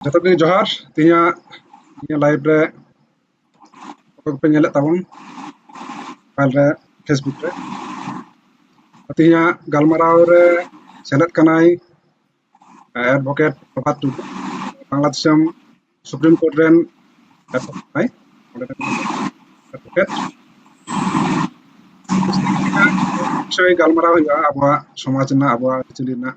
ᱡᱚᱛᱚ ᱜᱮ ᱡᱚᱦᱟᱨ ᱛᱮᱦᱮᱧᱟᱜ ᱱᱤᱭᱟᱹ ᱞᱟᱭᱤᱵᱷ ᱨᱮ ᱚᱠᱚᱭ ᱠᱚᱯᱮ ᱧᱮᱞᱮᱫ ᱛᱟᱵᱚᱱ ᱢᱳᱵᱟᱭᱤᱞ ᱨᱮ ᱯᱷᱮᱥᱵᱩᱠ ᱨᱮ ᱛᱮᱦᱮᱧᱟᱜ ᱜᱟᱞᱢᱟᱨᱟᱣ ᱨᱮ ᱥᱮᱞᱮᱫ ᱠᱟᱱᱟᱭ ᱮᱰᱵᱷᱚᱠᱮᱴ ᱯᱨᱚᱵᱷᱟᱛ ᱴᱩᱰᱩ ᱵᱟᱝᱞᱟ ᱫᱤᱥᱚᱢ ᱥᱩᱯᱨᱤᱢ ᱠᱳᱨᱴ ᱨᱮᱱ ᱠᱟᱱᱟᱭ ᱚᱸᱰᱮ ᱜᱟᱞᱢᱟᱨᱟᱣ ᱦᱩᱭᱩᱜᱼᱟ ᱟᱵᱚᱣᱟᱜ ᱥᱚᱢᱟᱡᱽ ᱨᱮᱱᱟᱜ ᱟᱵᱚᱣᱟᱜ ᱟᱹᱨᱤᱪᱟᱹᱞᱤ ᱨᱮᱱᱟᱜ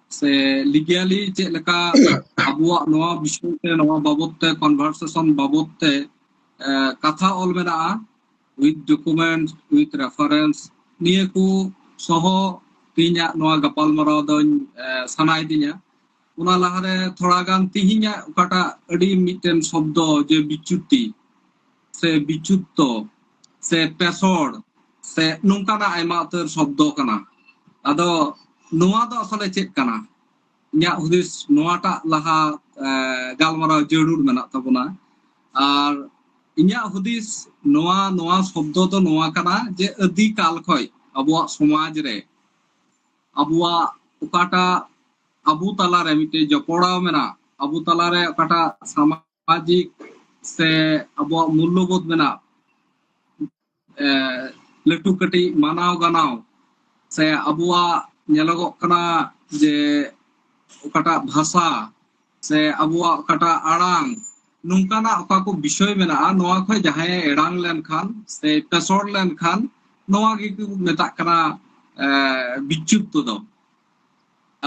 ᱥᱮ ᱞᱤᱜᱟᱞᱤ ᱪᱮᱫ ᱞᱮᱠᱟ ᱟᱵᱚᱣᱟᱜ ᱱᱚᱣᱟ ᱵᱤᱥᱚᱭ ᱛᱮ ᱱᱚᱣᱟ ᱵᱟᱵᱚᱛ ᱛᱮ ᱠᱚᱱᱵᱷᱟᱨᱥᱮᱥᱚᱱ ᱵᱟᱵᱚᱛ ᱛᱮ ᱠᱟᱛᱷᱟ ᱚᱞ ᱢᱮᱱᱟᱜᱼᱟ ᱩᱭᱤᱛᱷ ᱰᱚᱠᱩᱢᱮᱱᱴ ᱩᱭᱤᱛᱷ ᱨᱮᱯᱷᱟᱨᱮᱱᱥ ᱱᱤᱭᱟᱹ ᱠᱚ ᱥᱚᱦᱚ ᱛᱮᱦᱮᱧᱟᱜ ᱱᱚᱣᱟ ᱜᱟᱯᱟᱞᱢᱟᱨᱟᱣ ᱫᱚᱧ ᱥᱟᱱᱟᱭᱮᱫᱤᱧᱟ ᱚᱱᱟ ᱞᱟᱦᱟᱨᱮ ᱛᱷᱚᱲᱟ ᱜᱟᱱ ᱛᱮᱦᱮᱧᱟᱜ ᱚᱠᱟᱴᱟᱜ ᱟᱹᱰᱤ ᱢᱤᱫᱴᱮᱱ ᱥᱚᱵᱫᱚ ᱡᱮ ᱵᱤᱪᱩᱛᱤ ᱥᱮ ᱵᱤᱪᱩᱛᱛᱚ ᱥᱮ ᱯᱮᱥᱚᱲ ᱥᱮ ᱱᱚᱝᱠᱟᱱᱟᱜ ᱟᱭᱢᱟ ᱩᱛᱟᱹᱨ ᱥᱚᱵᱫᱚ ᱠᱟᱱᱟ ᱟᱫᱚ ᱱᱚᱣᱟ ᱫᱚ ᱟᱥᱚᱞᱮ ᱪᱮᱫ ᱠᱟᱱᱟ ᱤᱧᱟᱹᱜ ᱦᱩᱫᱤᱥ ᱱᱚᱣᱟᱴᱟᱜ ᱞᱟᱦᱟ ᱜᱟᱞᱢᱟᱨᱟᱣ ᱡᱟᱹᱨᱩᱲ ᱢᱮᱱᱟᱜ ᱛᱟᱵᱚᱱᱟ ᱟᱨ ᱤᱧᱟᱹᱜ ᱦᱩᱫᱤᱥ ᱱᱚᱣᱟ ᱱᱚᱣᱟ ᱥᱚᱵᱫᱚ ᱫᱚ ᱱᱚᱣᱟ ᱠᱟᱱᱟ ᱡᱮ ᱟᱹᱫᱤ ᱠᱟᱞ ᱠᱷᱚᱡ ᱟᱵᱚᱣᱟᱜ ᱥᱚᱢᱟᱡᱽ ᱨᱮ ᱟᱵᱚᱣᱟᱜ ᱚᱠᱟᱴᱟᱜ ᱟᱵᱚ ᱛᱟᱞᱟᱨᱮ ᱢᱤᱫᱴᱮᱡ ᱡᱚᱯᱚᱲᱟᱣ ᱢᱮᱱᱟᱜ ᱟᱵᱚ ᱛᱟᱞᱟᱨᱮ ᱚᱠᱟᱴᱟᱜ ᱥᱟᱢᱟᱡᱽ ᱥᱟᱢᱟᱡᱤᱠ ᱥᱮ ᱟᱵᱚᱣᱟᱜ ᱢᱩᱞᱞᱚᱵᱳᱫᱷ ᱢᱮᱱᱟᱜ ᱞᱟᱹᱴᱩ ᱠᱟᱹᱴᱤᱡ ᱢᱟᱱᱟᱣ ᱜᱟᱱᱟᱣ ᱥᱮ ᱟᱵᱚᱣᱟᱜ ᱧᱮᱞᱚᱜᱚᱜ ᱠᱟᱱᱟ ᱡᱮ ᱚᱠᱟᱴᱟᱜ ᱵᱷᱟᱥᱟ ᱥᱮ ᱟᱵᱚᱣᱟᱜ ᱚᱠᱟᱴᱟᱜ ᱟᱲᱟᱝ ᱱᱚᱝᱠᱟᱱᱟᱜ ᱚᱠᱟ ᱠᱚ ᱵᱤᱥᱚᱭ ᱢᱮᱱᱟᱜᱼᱟ ᱱᱚᱣᱟ ᱠᱷᱚᱱ ᱡᱟᱦᱟᱸᱭ ᱮᱲᱟᱝ ᱞᱮᱱᱠᱷᱟᱱ ᱥᱮ ᱯᱮᱥᱚᱲ ᱞᱮᱱᱠᱷᱟᱱ ᱱᱚᱣᱟ ᱜᱮᱠᱚ ᱢᱮᱛᱟᱜ ᱠᱟᱱᱟ ᱵᱤᱪᱪᱩᱫᱽᱫᱚ ᱫᱚ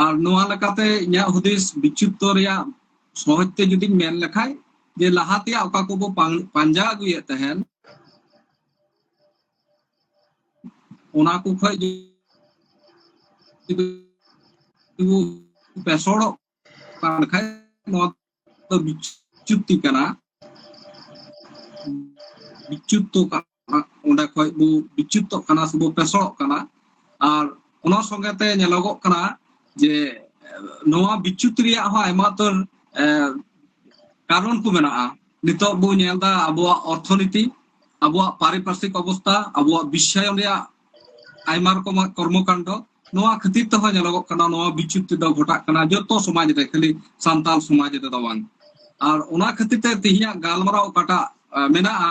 ᱟᱨ ᱱᱚᱣᱟ ᱞᱮᱠᱟᱛᱮ ᱤᱧᱟᱹᱜ ᱦᱩᱫᱤᱥ ᱵᱤᱪᱷᱩᱯᱛᱚ ᱨᱮᱭᱟᱜ ᱥᱚᱦᱚᱡ ᱛᱮ ᱡᱩᱫᱤᱧ ᱢᱮᱱ ᱞᱮᱠᱷᱟᱡ ᱡᱮ ᱞᱟᱦᱟ ᱛᱮᱭᱟᱜ ᱚᱠᱟ ᱠᱚᱵᱚ ᱯᱟᱸᱡᱟ ᱟᱹᱜᱩᱭᱮᱫ ᱛᱟᱦᱮᱱ ᱚᱱᱟ ᱠᱚ ᱠᱷᱚᱡ ᱡᱩᱫᱤ ᱵᱚ ᱯᱮᱥᱚᱲᱚᱜ ᱠᱟᱱ ᱠᱷᱟᱡ ᱱᱚᱣᱟ ᱫᱚ ᱵᱤᱪᱷᱩᱯᱛᱤ ᱠᱟᱱᱟ ᱵᱤᱪᱷᱩᱯᱛᱚ ᱠᱟᱱᱟ ᱚᱸᱰᱮ ᱠᱷᱚᱡ ᱵᱚ ᱵᱤᱪᱩᱛᱚᱜ ᱠᱟᱱᱟ ᱥᱮᱵᱚ ᱯᱮᱥᱚᱲᱚᱜ ᱠᱟᱱᱟ ᱟᱨ ᱚᱱᱟ ᱥᱚᱸᱜᱮ ᱛᱮ ᱧᱮᱞᱚᱜᱚᱜ ᱠᱟᱱᱟ ᱡᱮ ᱱᱚᱣᱟ ᱵᱤᱪᱩᱛ ᱨᱮᱭᱟᱜ ᱦᱚᱸ ᱟᱭᱢᱟ ᱩᱛᱟᱹᱨ ᱠᱟᱨᱚᱱ ᱠᱚ ᱢᱮᱱᱟᱜᱼᱟ ᱱᱤᱛᱚᱜ ᱵᱚ ᱧᱮᱞ ᱮᱫᱟ ᱟᱵᱚᱣᱟᱜ ᱚᱨᱛᱷᱚᱱᱤᱛᱤ ᱟᱵᱚᱣᱟᱜ ᱯᱟᱨᱤᱯᱟᱨᱥᱤᱠ ᱚᱵᱚᱥᱛᱟ ᱟᱵᱚᱣᱟᱜ ᱵᱤᱥᱥᱟᱭᱚᱱ ᱨᱮᱭᱟᱜ ᱟᱭᱢᱟ ᱨᱚᱠᱚᱢᱟᱜ ᱠᱚᱨᱢᱚᱠᱟᱱᱰᱚ ᱱᱚᱣᱟ ᱠᱷᱟᱹᱛᱤᱨ ᱛᱮᱦᱚᱸ ᱧᱮᱞᱚᱜᱚᱜ ᱠᱟᱱᱟ ᱱᱚᱣᱟ ᱵᱤᱪᱩᱛ ᱛᱮᱫᱚ ᱜᱷᱚᱴᱟᱜ ᱠᱟᱱᱟ ᱡᱚᱛᱚ ᱥᱚᱢᱟᱡᱽ ᱨᱮ ᱠᱷᱟᱹᱞᱤ ᱥᱟᱱᱛᱟᱞ ᱥᱚᱢᱟᱡᱽ ᱨᱮᱫᱚ ᱵᱟᱝ ᱟᱨ ᱚᱱᱟ ᱠᱷᱟᱹᱛᱤᱨ ᱛᱮ ᱛᱮᱦᱮᱧᱟᱜ ᱜᱟᱞᱢᱟᱨᱟᱣ ᱚᱠᱟᱴᱟᱜ ᱢᱮᱱᱟᱜᱼᱟ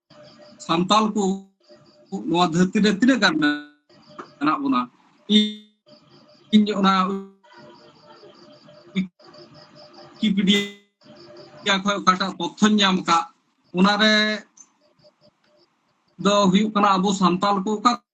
ᱥᱟᱱᱛᱟᱞ ᱠᱚ ᱱᱚᱣᱟ ᱫᱷᱟᱹᱨᱛᱤ ᱨᱮ ᱛᱤᱱᱟᱹᱜ ᱜᱟᱱ ᱢᱮᱱᱟᱜ ᱵᱚᱱᱟ ᱤᱧ ᱚᱱᱟ ᱣᱤᱠᱤᱯᱤᱰᱤᱭᱟ ᱠᱷᱚᱱ ᱚᱠᱟᱴᱟᱜ ᱛᱚᱛᱷᱚᱧ ᱧᱟᱢ ᱟᱠᱟᱫ ᱚᱱᱟᱨᱮ ᱫᱚ ᱦᱩᱭᱩᱜ ᱠᱟᱱᱟ ᱟᱵᱚ ᱥᱟᱱᱛᱟᱞ ᱠᱚ ᱚᱠᱟ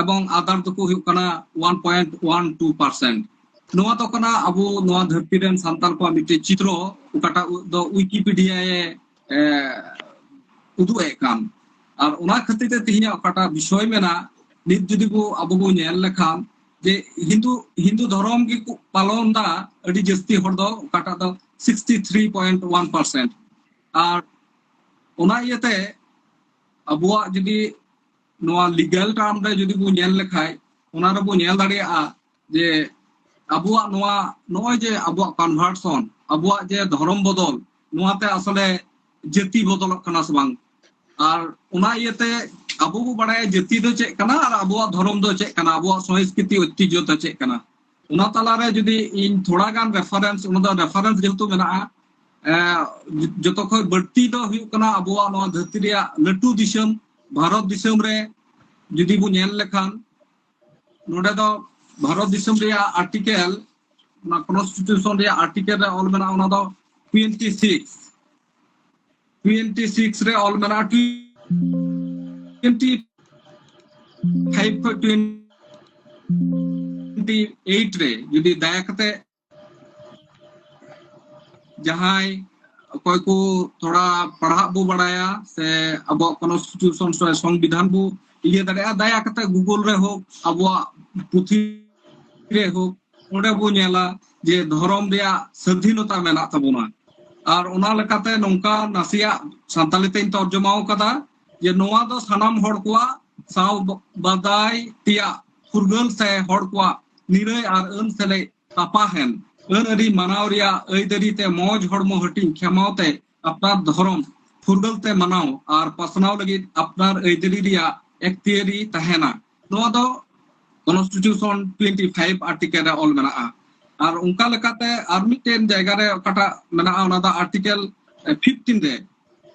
ᱮᱵᱚᱝ ᱟᱫᱟᱨ ᱫᱚᱠᱚ ᱦᱩᱭᱩᱜ ᱠᱟᱱᱟ one point one two percent ᱱᱚᱣᱟ ᱫᱚ ᱠᱟᱱᱟ ᱟᱵᱚ ᱱᱚᱣᱟ ᱫᱷᱟᱹᱨᱛᱤ ᱨᱮᱱ ᱥᱟᱱᱛᱟᱲ ᱠᱚᱣᱟᱜ ᱢᱤᱫᱴᱮᱡ ᱪᱤᱛᱨᱚ ᱚᱠᱟᱴᱟᱜ ᱫᱚ ᱩᱭᱠᱤᱯᱤᱰᱤᱭᱟ ᱮ ᱩᱫᱩᱜ ᱮᱫ ᱠᱟᱱ ᱟᱨ ᱚᱱᱟ ᱠᱷᱟᱹᱛᱤᱨ ᱛᱮ ᱛᱮᱦᱮᱧᱟᱜ ᱚᱠᱟᱴᱟᱜ ᱵᱤᱥᱚᱭ ᱢᱮᱱᱟᱜ ᱱᱤᱛ ᱡᱩᱫᱤ ᱵᱚ ᱟᱵᱚ ᱵᱚ ᱧᱮᱞ ᱞᱮᱠᱷᱟᱱ ᱡᱮ ᱦᱤᱱᱫᱩ ᱦᱤᱱᱫᱩ ᱫᱷᱚᱨᱚᱢ ᱜᱮᱠᱚ ᱯᱟᱞᱚᱱ ᱫᱟ ᱟᱹᱰᱤ ᱡᱟᱹᱥᱛᱤ ᱦᱚᱲ ᱫᱚ ᱚᱠᱟᱴᱟᱜ ᱫᱚ sixty three point one percent ᱟᱨ ᱚᱱᱟ ᱤᱭᱟᱹᱛᱮ ᱟᱵᱚᱣᱟᱜ ᱡᱩᱫᱤ ᱱᱚᱣᱟ ᱞᱤᱜᱟᱞ ᱴᱟᱨᱢ ᱨᱮ ᱡᱩᱫᱤ ᱵᱚ ᱧᱮᱞ ᱞᱮᱠᱷᱟᱡ ᱚᱱᱟ ᱨᱮᱵᱚ ᱧᱮᱞ ᱫᱟᱲᱮᱭᱟᱜᱼᱟ ᱡᱮ ᱟᱵᱚᱣᱟᱜ ᱱᱚᱣᱟ ᱱᱚᱜᱼᱚᱭ ᱡᱮ ᱟᱵᱚᱣᱟᱜ ᱠᱚᱱᱵᱷᱟᱨᱥᱚᱱ ᱟᱵᱚᱣᱟᱜ ᱡᱮ ᱫᱷᱚᱨᱚᱢ ᱵᱚᱫᱚᱞ ᱱᱚᱣᱟᱛᱮ ᱟᱥᱚᱞᱮ ᱡᱟᱹᱛᱤ ᱵᱚᱫᱚᱞᱚᱜ ᱠᱟᱱᱟ ᱥᱮ ᱵᱟᱝ ᱟᱨ ᱚᱱᱟ ᱤᱭᱟᱹᱛᱮ ᱟᱵᱚ ᱵᱚ ᱵᱟᱲᱟᱭᱟ ᱡᱟᱹᱛᱤ ᱫᱚ ᱪᱮᱫ ᱠᱟᱱᱟ ᱟᱨ ᱟᱵᱚᱣᱟᱜ ᱫᱷᱚᱨᱚᱢ ᱫᱚ ᱪᱮᱫ ᱠᱟᱱᱟ ᱟᱵᱚᱣᱟᱜ ᱥᱚᱝᱥᱠᱨᱤᱛᱤ ᱚᱭᱛᱤᱡᱚ ᱫᱚ ᱪᱮᱫ ᱠᱟᱱᱟ ᱚᱱᱟ ᱛᱟᱞᱟᱨᱮ ᱡᱩᱫᱤ ᱤᱧ ᱛᱷᱚᱲᱟ ᱜᱟᱱ ᱨᱮᱯᱷᱟᱨᱮᱱᱥ ᱚᱱᱟ ᱫᱚ ᱨᱮᱯᱷᱟᱨᱮᱱᱥ ᱡᱮᱦᱮᱛᱩ ᱢᱮᱱᱟᱜᱼᱟ ᱡᱚᱛᱚ ᱠᱷᱚᱱ ᱵᱟᱹᱲᱛᱤ ᱫᱚ ᱦᱩᱭᱩᱜ ᱠᱟᱱᱟ ᱟᱵᱚᱣᱟᱜ ᱱᱚᱣᱟ ᱫᱷᱟᱹᱨᱛᱤ ᱨᱮᱭᱟᱜ ᱞᱟᱹᱴᱩ ᱫᱤᱥᱚᱢ ᱵᱷᱟᱨᱚᱛ ᱫᱤᱥᱚᱢ ᱨᱮ ᱡᱩᱫᱤ ᱵᱚ ᱧᱮᱞ ᱞᱮᱠᱷᱟᱱ ᱱᱚᱰᱮ ᱫᱚ ᱵᱷᱟᱨᱚᱛ ᱫᱤᱥᱚᱢ ᱨᱮᱭᱟᱜ ᱟᱨᱴᱤᱠᱮᱞ ᱚᱱᱟ ᱠᱚᱱᱥᱴᱤᱴᱤᱭᱩᱥᱚᱱ ᱨᱮᱭᱟᱜ ᱟᱨᱴᱤᱠᱮᱞ ᱨᱮ ᱚᱞ ᱢᱮᱱᱟᱜᱼᱟ ᱚᱱᱟ ᱫᱚ ᱴᱩᱭᱮᱱᱴᱤ ᱥᱤᱠᱥ ᱴᱩᱭᱮᱱᱴᱤ ᱥᱤᱠᱥ ᱨᱮ ᱚᱞ ᱢᱮᱱᱟᱜᱼᱟ ᱴᱩᱭᱮᱱᱴᱤ ᱯᱷᱟᱭᱤᱵ ᱠᱷᱚᱱ ᱴᱩᱭᱮᱱᱴᱤ ᱮᱭᱤᱴ ᱨᱮ ᱡᱩᱫᱤ ᱫᱟᱭᱟ ᱠᱟᱛᱮ ᱡᱟᱦᱟᱸᱭ ᱚᱠᱚᱭ ᱠᱚ ᱛᱷᱚᱲᱟ ᱯᱟᱲᱦᱟᱜ ᱵᱚ ᱵᱟᱲᱟᱭᱟ ᱥᱮ ᱟᱵᱚᱣᱟᱜ ᱠᱚᱱᱥᱴᱤᱴᱤᱭᱩᱥᱚᱱ ᱥᱮ ᱥᱚᱝᱵᱤᱫᱷᱟᱱ ᱵᱚ ᱤᱭᱟᱹ ᱫᱟᱲᱮᱭᱟᱜᱼᱟ ᱫᱟᱭᱟ ᱠᱟᱛᱮ ᱜᱩᱜᱩᱞ ᱨᱮ ᱦᱳᱠ ᱟᱵᱚᱣᱟᱜ ᱯᱩᱛᱷᱤ ᱨᱮ ᱦᱳᱠ ᱚᱸᱰᱮ ᱵᱚ ᱧᱮᱞᱟ ᱡᱮ ᱫᱷᱚᱨᱚᱢ ᱨᱮᱭᱟᱜ ᱥᱟᱹᱫᱷᱤᱱᱚᱛᱟ ᱢᱮᱱᱟᱜ ᱛᱟᱵᱚᱱᱟ ᱟᱨ ᱚᱱᱟ ᱞᱮᱠᱟᱛᱮ ᱱᱚᱝᱠᱟ ᱱᱟᱥᱮᱭᱟᱜ ᱥᱟᱱᱛᱟᱞᱤ ᱛᱮᱧ ᱛᱚᱨᱡᱚᱢᱟ ᱟᱠᱟᱫᱟ ᱡᱮ ᱱᱚᱣᱟ ᱫᱚ ᱥᱟᱱᱟᱢ ᱦᱚᱲ ᱠᱚᱣᱟᱜ ᱥᱟᱶ ᱵᱟᱫᱟᱭ ᱛᱮᱭᱟᱜ ᱯᱷᱩᱨᱜᱟᱹᱞ ᱥᱮ ᱦᱚᱲ ᱠᱚᱣᱟᱜ ᱱᱤᱨᱟᱹᱭ ᱟᱨ ᱟᱹᱱ ᱥᱮᱞᱮᱫ ᱛᱟᱯᱟᱦᱮᱱ ᱟᱹᱱ ᱟᱹᱨᱤ ᱢᱟᱱᱟᱣ ᱨᱮᱭᱟᱜ ᱟᱹᱭᱫᱟᱹᱨᱤ ᱛᱮ ᱢᱚᱡᱽ ᱦᱚᱲᱢᱚ ᱦᱟᱹᱴᱤᱧ ᱠᱷᱮᱢᱟᱣ ᱛᱮ ᱟᱯᱱᱟᱨ ᱫᱷᱚᱨᱚᱢ ᱯᱷᱩᱨᱜᱟᱹᱞ ᱛᱮ ᱢᱟᱱᱟᱣ ᱟᱨ ᱯᱟᱥᱱᱟᱣ ᱞᱟᱹᱜᱤᱫ ᱟᱯᱱᱟᱨ ᱟᱹᱭᱫᱟᱹᱨᱤ ᱨᱮᱭᱟᱜ ᱮᱠᱛᱤᱭᱟᱹᱨᱤ ᱛᱟᱦᱮᱱᱟ ᱱᱚᱣᱟ ᱫᱚ ᱠᱚᱱᱥᱴᱤᱴᱤᱭᱩᱥᱚᱱ ᱴᱩᱭᱮᱱᱴᱤ ᱯᱷᱟᱭᱤᱵ ᱟᱨᱴᱤᱠᱮᱞ ᱨᱮ ᱚᱞ ᱢᱮᱱᱟᱜᱼᱟ ᱟᱨ ᱚᱱᱠᱟ ᱞᱮᱠᱟᱛᱮ ᱟᱨ ᱢᱤᱫᱴᱮᱱ ᱡᱟᱭᱜᱟ ᱨᱮ ᱚᱠᱟᱴᱟᱜ ᱢᱮᱱᱟᱜᱼᱟ ᱚᱱᱟ ᱫᱚ ᱟᱨᱴᱤᱠᱮᱞ ᱯᱷᱤᱯᱴᱤᱱ ᱨᱮ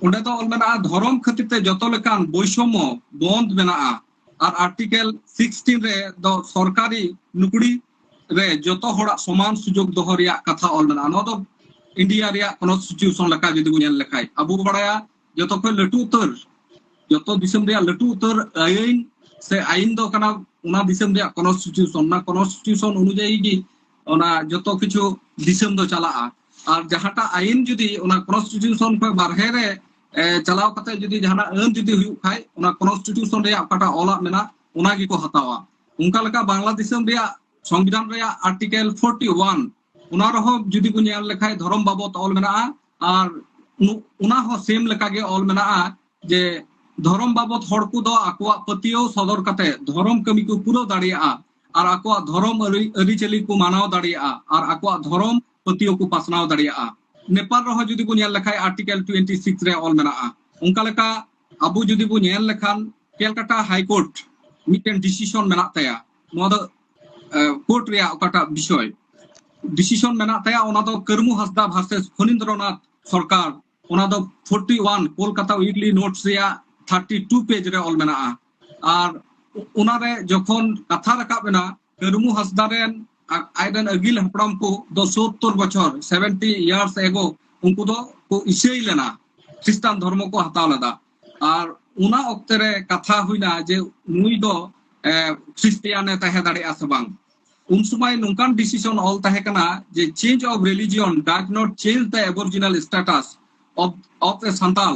ᱚᱸᱰᱮ ᱫᱚ ᱚᱞ ᱢᱮᱱᱟᱜᱼᱟ ᱫᱷᱚᱨᱚᱢ ᱠᱷᱟᱹᱛᱤᱨ ᱛᱮ ᱡᱚᱛᱚ ᱞᱮᱠᱟᱱ ᱵᱳᱭᱥᱚᱢᱚ ᱵᱚᱱᱫ ᱢᱮᱱᱟᱜᱼᱟ ᱟᱨ ᱟᱨᱴᱤᱠᱮᱞ 16 ᱨᱮ ᱫᱚ ᱥᱚᱨᱠᱟᱨᱤ ᱱᱩᱠᱲᱤ ᱨᱮ ᱡᱚᱛᱚ ᱦᱚᱲᱟᱜ ᱥᱚᱢᱟᱱ ᱥᱩᱡᱳᱜᱽ ᱫᱚᱦᱚ ᱨᱮᱭᱟᱜ ᱠᱟᱛᱷᱟ ᱚᱞ ᱢᱮᱱᱟᱜᱼᱟ ᱱᱚᱣᱟ ᱫᱚ ᱤᱱᱰᱤᱭᱟ ᱨᱮᱭᱟᱜ ᱠᱚᱱᱥᱴᱤᱴᱤᱭᱩᱥᱚᱱ ᱞᱮᱠᱟ ᱡᱩᱫᱤ ᱵᱚᱱ ᱧᱮᱞ ᱞᱮᱠᱷᱟᱡ ᱟᱵᱚ ᱵᱚ ᱵᱟᱲᱟᱭᱟ ᱡᱚᱛᱚ ᱠᱷᱚᱱ ᱞᱟᱹᱴᱩ ᱩᱛᱟᱹᱨ ᱡᱚᱛᱚ ᱫᱤᱥᱚᱢ ᱨᱮᱭᱟᱜ ᱞᱟᱹᱴᱩ ᱩᱛᱟᱹᱨ ᱟᱹᱭᱤᱱ ᱥᱮ ᱟᱹᱭᱤᱱ ᱫᱚ ᱠᱟᱱᱟ ᱚᱱᱟ ᱫᱤᱥᱚᱢ ᱨᱮᱭᱟᱜ ᱠᱚᱱᱥᱴᱤᱴᱤᱭᱩᱥᱚᱱ ᱚᱱᱟ ᱠᱚᱱᱥᱴᱤᱴᱤᱭᱩᱥᱚᱱ ᱚᱱᱩᱡᱟᱭᱤ ᱜᱮ ᱚᱱᱟ ᱡᱚᱛᱚ ᱠᱤᱪᱷᱩ ᱫᱤᱥᱚᱢ ᱫᱚ ᱪᱟᱞᱟᱜᱼᱟ ᱟᱨ ᱡᱟᱦᱟᱸᱴᱟᱜ ᱟᱹᱭᱤᱱ ᱡᱩᱫᱤ ᱚᱱᱟ ᱠᱚᱱᱥᱴᱤᱴᱤᱭᱩᱥᱚᱱ ᱠᱷᱚᱱ ᱵᱟᱨᱦᱮ ᱨᱮ ᱪᱟᱞᱟᱣ ᱠᱟᱛᱮ ᱡᱩᱫᱤ ᱡᱟᱦᱟᱱᱟᱜ ᱟᱹᱱ ᱡᱩᱫᱤ ᱦᱩᱭᱩᱜ ᱠᱷᱟᱡ ᱚᱱᱟ ᱠᱚᱱᱥᱴᱤᱴᱤᱭᱩᱥᱚᱱ ᱨᱮᱭᱟᱜ ᱚᱠᱟᱴᱟᱜ ᱚᱞᱟᱜ ᱢᱮᱱᱟᱜ ᱚᱱᱟ ᱜᱮᱠᱚ ᱦᱟᱛᱟᱣᱟ ᱚᱱᱠᱟ ᱞᱮᱠᱟ ᱵᱟᱝᱞᱟ ᱫᱤᱥᱚᱢ ᱨᱮᱭᱟᱜ ᱥᱚᱝᱵᱤᱫᱷᱟᱱ ᱨᱮᱭᱟᱜ ᱟᱨᱴᱤᱠᱮᱞ 41 ᱚᱱᱟ ᱨᱮᱦᱚᱸ ᱡᱩᱫᱤ ᱵᱚ ᱧᱮᱞ ᱞᱮᱠᱷᱟᱡ ᱫᱷᱚᱨᱚᱢ ᱵᱟᱵᱚᱛ ᱚᱞ ᱢᱮᱱᱟᱜᱼᱟ ᱟᱨ ᱚᱱᱟ ᱦᱚᱸ ᱥᱮᱢ ᱞᱮᱠᱟ ᱜᱮ ᱚᱞ ᱢᱮᱱᱟᱜᱼᱟ ᱡᱮ ᱫᱷᱚᱨᱚᱢ ᱵᱟᱵᱚᱛ ᱦᱚᱲ ᱠᱚ ᱫᱚ ᱟᱠᱚᱣᱟᱜ ᱯᱟᱹᱛᱭᱟᱹᱣ ᱥᱚᱫᱚᱨ ᱠᱟᱛᱮ ᱫᱷᱚᱨᱚᱢ ᱠᱟᱹᱢᱤ ᱠᱚ ᱯᱩᱨᱟᱹᱣ ᱫᱟᱲᱮᱭᱟᱜᱼᱟ ᱟᱨ ᱟᱠᱚᱣᱟᱜ ᱫᱷᱚᱨᱚᱢ ᱟᱹᱨᱤᱪᱟᱹᱞᱤ ᱠᱚ ᱢᱟᱱᱟᱣ ᱫᱟᱲᱮᱭᱟᱜᱼᱟ ᱟᱨ ᱟᱠᱚᱣᱟᱜ ᱫᱷᱚᱨᱚᱢ ᱯᱟᱹᱛᱭᱟᱹᱣ ᱠᱚ ᱯᱟᱥᱱᱟᱣ ᱫᱟᱲᱮᱭᱟᱜᱼᱟ ᱱᱮᱯᱟᱞ ᱨᱮᱦᱚᱸ ᱡᱩᱫᱤ ᱵᱚ ᱧᱮᱞ ᱞᱮᱠᱷᱟᱱ ᱟᱨᱴᱤᱠᱮᱞ ᱴᱩᱭᱮᱱᱴᱤ ᱥᱤᱠᱥ ᱨᱮ ᱚᱞ ᱢᱮᱱᱟᱜᱼᱟ ᱚᱱᱠᱟ ᱞᱮᱠᱟ ᱟᱵᱚ ᱡᱩᱫᱤ ᱵᱚ ᱧᱮᱞ ᱞᱮᱠᱷᱟᱱ ᱠᱮᱞᱠᱟᱴᱟ ᱦᱟᱭᱠᱳᱨᱴ ᱢᱤᱫᱴᱮᱱ ᱰᱤᱥᱤᱥᱚᱱ ᱢᱮᱱᱟᱜ ᱛᱟᱭᱟ ᱱᱚᱣᱟ ᱫᱚ ᱠᱳᱨᱴ ᱨᱮᱭᱟᱜ ᱚᱠᱟᱴᱟᱜ ᱵᱤᱥᱚᱭ ᱰᱤᱥᱤᱥᱚᱱ ᱢᱮᱱᱟᱜ ᱛᱟᱭᱟ ᱚᱱᱟ ᱫᱚ ᱠᱟᱹᱨᱢᱩ ᱦᱟᱸᱥᱫᱟ ᱵᱷᱟᱨᱥᱮᱥ ᱯᱷᱚᱱᱤᱱᱫᱨᱚᱱᱟᱛᱷ ᱥᱚᱨᱠᱟᱨ ᱚᱱᱟ ᱫᱚ forty one Kolkata weekly notes ᱨᱮᱭᱟᱜ ᱛᱷᱟᱨᱴᱤ ᱴᱩ ᱯᱮᱡᱽ ᱨᱮ ᱚᱞ ᱢᱮᱱᱟᱜᱼᱟ ᱟᱨ ᱚᱱᱟᱨᱮ ᱡᱚᱠᱷᱚᱱ ᱠᱟᱛᱷᱟ ᱨᱟᱠᱟᱵ ᱮᱱᱟ ᱠᱟᱹᱨᱢᱩ ᱦᱟᱸᱥᱫᱟ ᱨᱮᱱ ᱟᱡ ᱨᱮᱱ ᱟᱹᱜᱤᱞ ᱦᱟᱯᱲᱟᱢ ᱠᱚ ᱫᱚ ᱥᱳᱛᱛᱚᱨ ᱵᱚᱪᱷᱚᱨ ᱥᱮᱵᱷᱮᱱᱴᱤ ᱤᱭᱟᱨᱥ ᱮᱜᱳ ᱩᱱᱠᱩ ᱫᱚ ᱠᱚ ᱤᱥᱟᱹᱭ ᱞᱮᱱᱟ ᱠᱷᱨᱤᱥᱴᱟᱱ ᱫᱷᱚᱨᱢᱚ ᱠᱚ ᱦᱟᱛᱟᱣ ᱞᱮᱫᱟ ᱟᱨ ᱚᱱᱟ ᱚᱠᱛᱮ ᱨᱮ ᱠᱟᱛᱷᱟ ᱦᱩᱭᱱᱟ ᱡᱮ ᱱᱩᱭ ᱫᱚ ᱠᱷᱨᱤᱥᱴᱤᱭᱟᱱ ᱮ ᱛᱟᱦᱮᱸ ᱫᱟᱲᱮᱭᱟᱜᱼᱟ ᱥᱮ ᱵᱟᱝ ᱩᱱ ᱥᱚᱢᱚᱭ ᱱᱚᱝᱠᱟᱱ ᱰᱤᱥᱤᱥᱚᱱ ᱚᱞ ᱛᱟᱦᱮᱸ ᱠᱟᱱᱟ ᱡᱮ change of religion does not change the aboriginal status of of a Santal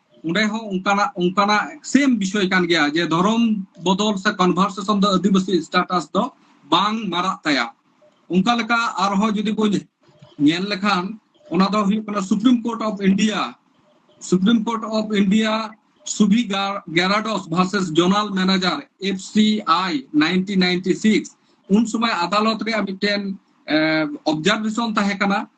ᱚᱸᱰᱮ ᱦᱚᱸ ᱚᱱᱠᱟᱱᱟᱜ ᱚᱱᱠᱟᱱᱟᱜ ᱥᱮᱢ ᱵᱤᱥᱚᱭ ᱠᱟᱱ ᱜᱮᱭᱟ ᱡᱮ ᱫᱷᱚᱨᱚᱢ ᱵᱚᱫᱚᱞ ᱥᱮ ᱠᱚᱱᱵᱷᱟᱨᱥᱮᱥᱚᱱ ᱫᱚ ᱟᱹᱫᱤᱵᱟᱹᱥᱤ ᱥᱴᱟᱴᱟᱥ ᱫᱚ ᱵᱟᱝ ᱢᱟᱨᱟᱜ ᱛᱟᱭᱟ ᱚᱱᱠᱟ ᱞᱮᱠᱟ ᱟᱨᱦᱚᱸ ᱡᱩᱫᱤ ᱵᱚᱱ ᱧᱮᱞ ᱞᱮᱠᱷᱟᱱ ᱚᱱᱟ ᱫᱚ ᱦᱩᱭᱩᱜ ᱠᱟᱱᱟ Supreme Court of India Supreme Court of India Subhi Geradas versus general manager F C I nineteen ninety six ᱩᱱ ᱥᱚᱢᱚᱭ ᱟᱫᱟᱞᱚᱛ ᱨᱮᱭᱟᱜ ᱢᱤᱫᱴᱮᱱ ᱚᱵᱡᱟᱨᱵᱷᱮᱥᱚᱱ ᱛᱟᱦᱮᱸ ᱠᱟᱱᱟ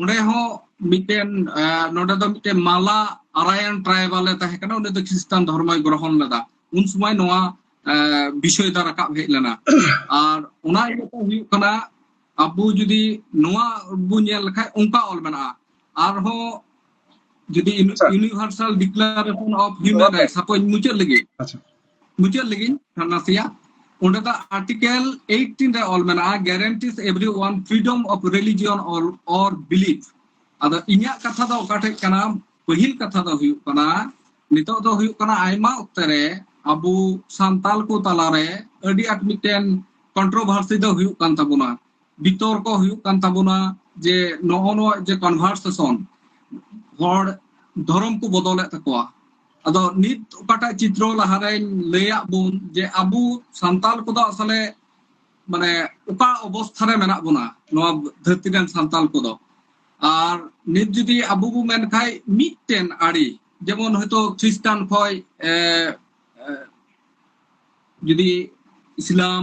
ᱚᱸᱰᱮ ᱦᱚᱸ ᱢᱤᱫᱴᱮᱱ ᱱᱚᱰᱮ ᱫᱚ ᱢᱤᱫᱴᱮᱱ ᱢᱟᱞᱟ ᱟᱨᱟᱭᱟᱱ ᱴᱨᱟᱭᱵᱟᱞ ᱮ ᱛᱟᱦᱮᱸ ᱠᱟᱱᱟ ᱩᱱᱤ ᱫᱚ ᱠᱷᱨᱤᱥᱴᱟᱱ ᱫᱷᱚᱨᱢᱚᱭ ᱜᱨᱚᱦᱚᱱ ᱞᱮᱫᱟ ᱩᱱ ᱥᱚᱢᱚᱭ ᱱᱚᱣᱟ ᱵᱤᱥᱚᱭ ᱫᱚ ᱨᱟᱠᱟᱵ ᱦᱮᱡ ᱞᱮᱱᱟ ᱟᱨ ᱚᱱᱟ ᱤᱭᱟᱹᱛᱮ ᱦᱩᱭᱩᱜ ᱠᱟᱱᱟ ᱟᱵᱚ ᱡᱩᱫᱤ ᱱᱚᱣᱟ ᱵᱚ ᱧᱮᱞ ᱞᱮᱠᱷᱟᱡ ᱚᱱᱠᱟ ᱚᱞ ᱢᱮᱱᱟᱜᱼᱟ ᱟᱨᱦᱚᱸ ᱡᱩᱫᱤ universal declaration of human right ᱥᱟᱯᱳᱡ ᱢᱩᱪᱟᱹᱫ ᱞᱟᱹᱜᱤᱫ ᱢᱩᱪᱟᱹᱫ ᱞᱟᱹᱜᱤᱫ ᱱᱟᱥᱮᱭᱟᱜ ᱚᱸᱰᱮ ᱫᱚ ᱟᱨᱴᱤᱠᱮᱞ 18 ᱨᱮ ᱚᱞ ᱢᱮᱱᱟᱜᱼᱟ guarantees everyone freedom of religion ᱚᱞ ᱚᱨ ᱵᱤᱞᱤᱯ ᱟᱫᱚ ᱤᱧᱟᱹᱜ ᱠᱟᱛᱷᱟ ᱫᱚ ᱚᱠᱟᱴᱷᱮᱡ ᱠᱟᱱᱟ ᱯᱟᱹᱦᱤᱞ ᱠᱟᱛᱷᱟ ᱫᱚ ᱦᱩᱭᱩᱜ ᱠᱟᱱᱟ ᱱᱤᱛᱚᱜ ᱫᱚ ᱦᱩᱭᱩᱜ ᱠᱟᱱᱟ ᱟᱭᱢᱟ ᱚᱠᱛᱮ ᱨᱮ ᱟᱵᱚ ᱥᱟᱱᱛᱟᱞ ᱠᱚ ᱛᱟᱞᱟᱨᱮ ᱟᱹᱰᱤ ᱟᱸᱴ ᱢᱤᱫᱴᱮᱱ ᱠᱚᱱᱴᱨᱳᱵᱷᱟᱨᱥᱤ ᱫᱚ ᱦᱩᱭᱩᱜ ᱠᱟᱱ ᱛᱟᱵᱚᱱᱟ ᱵᱤᱛᱚᱨᱠᱚ ᱦᱩᱭᱩᱜ ᱠᱟᱱ ᱛᱟᱵᱚᱱᱟ ᱡᱮ ᱱᱚᱜᱼᱚ ᱱᱚᱣᱟ ᱡᱮ ᱠᱚᱱᱵᱷᱟᱨᱥᱮᱥᱚᱱ ᱦᱚᱲ ᱫᱷᱚᱨᱚᱢ ᱠᱚ ᱵᱚᱫᱚᱞᱮᱫ ᱛᱟᱠᱚᱣᱟ ᱟᱫᱚ ᱱᱤᱛ ᱚᱠᱟᱴᱟᱜ ᱪᱤᱛᱨᱚ ᱞᱟᱦᱟᱨᱮᱧ ᱞᱟᱹᱭᱟᱫ ᱵᱚᱱ ᱡᱮ ᱟᱵᱚ ᱥᱟᱱᱛᱟᱲ ᱠᱚᱫᱚ ᱟᱥᱚᱞᱮ ᱢᱟᱱᱮ ᱚᱠᱟ ᱚᱵᱚᱥᱛᱷᱟ ᱨᱮ ᱢᱮᱱᱟᱜ ᱵᱚᱱᱟ ᱱᱚᱣᱟ ᱫᱷᱟᱹᱨᱛᱤ ᱨᱮᱱ ᱥᱟᱱᱛᱟᱲ ᱠᱚᱫᱚ ᱟᱨ ᱱᱤᱛ ᱡᱩᱫᱤ ᱟᱵᱚ ᱵᱚ ᱢᱮᱱ ᱠᱷᱟᱡ ᱢᱤᱫᱴᱮᱱ ᱟᱹᱲᱤ ᱡᱮᱢᱚᱱ ᱦᱚᱭᱛᱳ ᱠᱷᱨᱤᱥᱴᱟᱱ ᱠᱷᱚᱡ ᱡᱩᱫᱤ ᱤᱥᱞᱟᱢ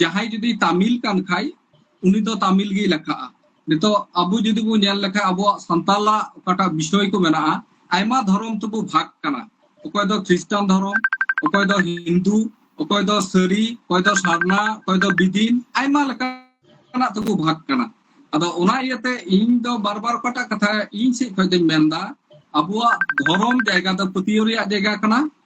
ᱡᱟᱦᱟᱸᱭ ᱡᱩᱫᱤ ᱛᱟᱢᱤᱞ ᱠᱟᱱ ᱠᱷᱟᱭ ᱩᱱᱤ ᱫᱚ ᱛᱟᱢᱤᱞ ᱜᱮᱭ ᱞᱮᱠᱷᱟᱜᱼᱟ ᱱᱤᱛᱚᱜ ᱟᱵᱚ ᱡᱩᱫᱤ ᱵᱚ ᱧᱮᱞ ᱞᱮᱠᱷᱟᱱ ᱟᱵᱚᱣᱟᱜ ᱥᱟᱱᱛᱟᱞᱟᱜ ᱚᱠᱟᱴᱟᱜ ᱵᱤᱥᱚᱭ ᱠᱚ ᱢᱮᱱᱟᱜᱼᱟ ᱟᱭᱢᱟ ᱫᱷᱚᱨᱚᱢ ᱛᱮᱵᱚ ᱵᱷᱟᱜᱽ ᱠᱟᱱᱟ ᱚᱠᱚᱭ ᱫᱚ ᱠᱷᱨᱤᱥᱴᱟᱱ ᱫᱷᱚᱨᱚᱢ ᱚᱠᱚᱭ ᱫᱚ ᱦᱤᱱᱫᱩ ᱚᱠᱚᱭ ᱫᱚ ᱥᱟᱹᱨᱤ ᱚᱠᱚᱭ ᱫᱚ ᱥᱟᱨᱱᱟ ᱚᱠᱚᱭ ᱫᱚ ᱵᱤᱫᱤᱱ ᱟᱭᱢᱟ ᱞᱮᱠᱟᱱᱟᱜ ᱛᱮᱵᱚ ᱵᱷᱟᱜᱽ ᱠᱟᱱᱟ ᱟᱫᱚ ᱚᱱᱟ ᱤᱭᱟᱹᱛᱮ ᱤᱧ ᱫᱚ ᱵᱟᱨ ᱵᱟᱨ ᱚᱠᱟᱴᱟᱜ ᱠᱟᱛᱷᱟ ᱤᱧ ᱥᱮᱫ ᱠᱷᱚᱱ ᱫᱚᱧ ᱢᱮᱱᱫᱟ ᱟᱵᱚᱣᱟᱜ ᱫᱷᱚᱨᱚᱢ ᱡᱟᱭᱜᱟ ᱫᱚ ᱯᱟᱹᱛᱭᱟᱹᱣ ᱨᱮᱭᱟᱜ ᱡᱟᱭᱜᱟ ᱠᱟᱱᱟ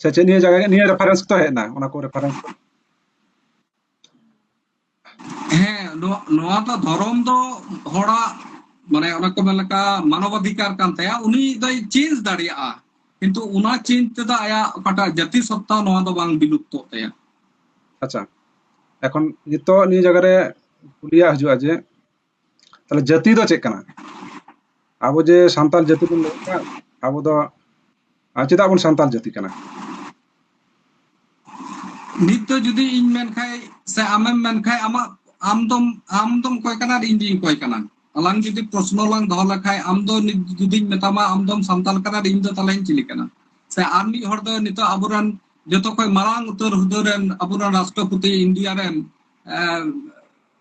ᱥᱮ ᱪᱮᱫ ᱱᱤᱭᱟᱹ ᱡᱟᱭᱜᱟ ᱱᱤᱭᱟᱹ ᱨᱮᱯᱷᱟᱨᱮᱱᱥ ᱛᱚ ᱦᱮᱡ ᱮᱱᱟ ᱚᱱᱟ ᱠᱚ ᱨᱮᱯᱷᱟᱨᱮᱱᱥ ᱦᱮᱸ ᱱᱚᱣᱟ ᱫᱚ ᱫᱷᱚᱨᱚᱢ ᱫᱚ ᱦᱚᱲᱟᱜ ᱢᱟᱱᱮ ᱚᱱᱟ ᱠᱚ ᱢᱮᱱ ᱞᱮᱠᱟ ᱢᱟᱱᱚᱵᱟধিᱠᱟᱨ ᱠᱟᱱ ᱛᱟᱭᱟ ᱩᱱᱤ ᱫᱚᱭ ᱪᱮᱧᱡᱽ ᱫᱟᱲᱮᱭᱟᱜᱼᱟ ᱠᱤᱱᱛᱩ ᱚᱱᱟ ᱪᱮᱧᱡᱽ ᱛᱮᱫᱚ ᱟᱭᱟᱜ ᱚᱠᱟᱴᱟᱜ ᱡᱟᱹᱛᱤ ᱥᱚᱛᱛᱟ ᱱᱚᱣᱟ ᱫᱚ ᱵᱟᱝ ᱵᱤᱞᱩᱯᱛᱚᱜ ᱛᱟᱭᱟ ᱟᱪᱪᱷᱟ ᱮᱠᱷᱚᱱ ᱱᱤᱛᱚᱜ ᱱᱤᱭᱟᱹ ᱡᱟᱭᱜᱟ ᱨᱮ ᱠᱩᱞᱤᱭᱟᱜ ᱦᱤᱡᱩᱜᱼᱟ ᱡᱮ ᱛᱟᱦᱚᱞᱮ ᱡᱟᱹᱛᱤ ᱫᱚ ᱪᱮᱫ ᱠᱟᱱᱟ ᱟᱵᱚ ᱡᱮ ᱥᱟᱱᱛᱟᱲ ᱡᱟᱹᱛᱤ ᱵᱚᱱ ᱞᱟᱹᱭ ᱠᱟᱱ ᱟᱵᱚ ᱫᱚ ᱪᱮᱫᱟᱜ ᱵᱚᱱ ᱥᱟᱱᱛᱟᱲ ᱡᱟᱹᱛᱤ ᱠᱟᱱᱟ ᱱᱤᱛ ᱫᱚ ᱡᱩᱫᱤ ᱤᱧ ᱢᱮᱱ ᱠᱷᱟᱡ ᱥᱮ ᱟᱢᱮᱢ ᱢᱮᱱ ᱠᱷᱟᱡ ᱟᱢᱟᱜ ᱟᱢ ᱫᱚᱢ ᱟᱢ ᱫᱚᱢ ᱠᱚᱭ ᱠᱟᱱᱟ ᱤᱧ ᱫᱚᱧ ᱠᱚᱭ ᱠᱟᱱᱟ ᱟᱞᱟᱝ ᱡᱩᱫᱤ ᱯᱨᱚᱥᱱᱚ ᱞᱟᱝ ᱫᱚᱦᱚ ᱞᱮᱠᱷᱟᱡ ᱟᱢ ᱫᱚ ᱱᱤᱛ ᱡᱩᱫᱤᱧ ᱢᱮᱛᱟᱢᱟ ᱟᱢ ᱫᱚᱢ ᱥᱟᱱᱛᱟᱲ ᱠᱟᱱᱟ ᱤᱧ ᱫᱚ ᱛᱟᱦᱚᱞᱮᱧ ᱪᱤᱞᱤ ᱠᱟᱱᱟ ᱥᱮ ᱟᱨ ᱢᱤᱫ ᱦᱚᱲ ᱫᱚ ᱱᱤᱛᱚᱜ ᱟᱵᱚᱨᱮᱱ ᱡᱚᱛᱚ ᱠᱷᱚᱡ ᱢᱟᱨᱟᱝ ᱩᱛᱟᱹᱨ ᱦᱩᱫᱟᱹ ᱨᱮᱱ ᱟᱵᱚᱨᱮᱱ ᱨᱟᱥᱴᱨᱚᱯᱚᱛᱤ ᱤᱱᱰᱤᱭᱟ ᱨᱮᱱ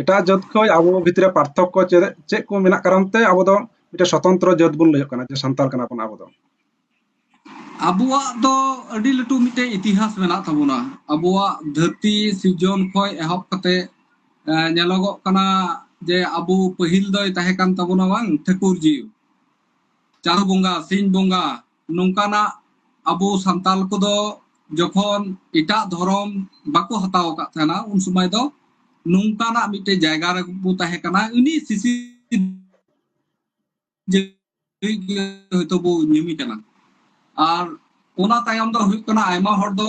ᱮᱴᱟᱜ ᱡᱟᱹᱛ ᱠᱷᱚᱱ ᱟᱵᱚ ᱵᱷᱤᱛᱨᱤ ᱨᱮ ᱯᱟᱨᱛᱷᱚᱠᱠᱚ ᱪᱮᱫ ᱪᱮᱫ ᱠᱚ ᱢᱮᱱᱟᱜ ᱠᱟᱨᱚᱱ ᱛᱮ ᱟᱵᱚ ᱫᱚ ᱢᱤᱫᱴᱮᱱ ᱥᱚᱛᱚᱱᱛᱨᱚ ᱡᱟᱹᱛ ᱵᱚᱱ ᱞᱟᱹᱭᱚᱜ ᱠᱟᱱᱟ ᱡᱮ ᱥᱟᱱᱛᱟᱲ ᱠᱟᱱᱟ ᱵᱚᱱ ᱟᱵᱚ ᱫᱚ ᱟᱵᱚᱣᱟᱜ ᱫᱚ ᱟᱹᱰᱤ ᱞᱟᱹᱴᱩ ᱢᱤᱫᱴᱮᱱ ᱤᱛᱤᱦᱟᱥ ᱢᱮᱱᱟᱜ ᱛᱟᱵᱚᱱᱟ ᱟᱵᱚᱣᱟᱜ ᱫᱷᱟᱹᱨᱛᱤ ᱥᱤᱨᱡᱚᱱ ᱠᱷᱚᱱ ᱮᱦᱚᱵ ᱠᱟᱛᱮ ᱧᱮᱞᱚᱜᱚᱜ ᱠᱟᱱᱟ ᱡᱮ ᱟᱵᱚ ᱯᱟᱹᱦᱤᱞ ᱫᱚᱭ ᱛᱟᱦᱮᱸ ᱠᱟᱱ ᱛᱟᱵᱚᱱᱟ ᱵᱟᱝ ᱴᱷᱟᱹᱠᱩᱨ ᱡᱤᱣᱤ ᱪᱟᱸᱫᱚ ᱵᱚᱸᱜᱟ ᱥᱤᱧ ᱵᱚᱸᱜᱟ ᱱᱚᱝᱠᱟᱱᱟᱜ ᱟᱵᱚ ᱥᱟᱱᱛᱟᱞ ᱠᱚᱫᱚ ᱡᱚᱠᱷᱚᱱ ᱮᱴᱟᱜ ᱫᱷᱚᱨᱚᱢ ᱵᱟᱠᱚ ᱦᱟᱛᱟᱣ ᱟᱠᱟᱫ ᱛᱟᱦᱮᱱᱟ ᱩᱱ ᱥᱚᱢᱚᱭ ᱫᱚ ᱱᱚᱝᱠᱟᱱᱟᱜ ᱢᱤᱫᱴᱮᱱ ᱡᱟᱭᱜᱟ ᱨᱮ ᱵᱚ ᱛᱟᱦᱮᱸ ᱠᱟᱱᱟ ᱩᱱᱤ ᱥᱤᱥᱤ ᱦᱚᱭᱛᱚ ᱵᱚ ᱧᱩᱢᱮ ᱠᱟᱱᱟ ᱟᱨ ᱚᱱᱟ ᱛᱟᱭᱚᱢ ᱫᱚ ᱦᱩᱭᱩᱜ ᱠᱟᱱᱟ ᱟᱭᱢᱟ ᱦᱚᱲ ᱫᱚ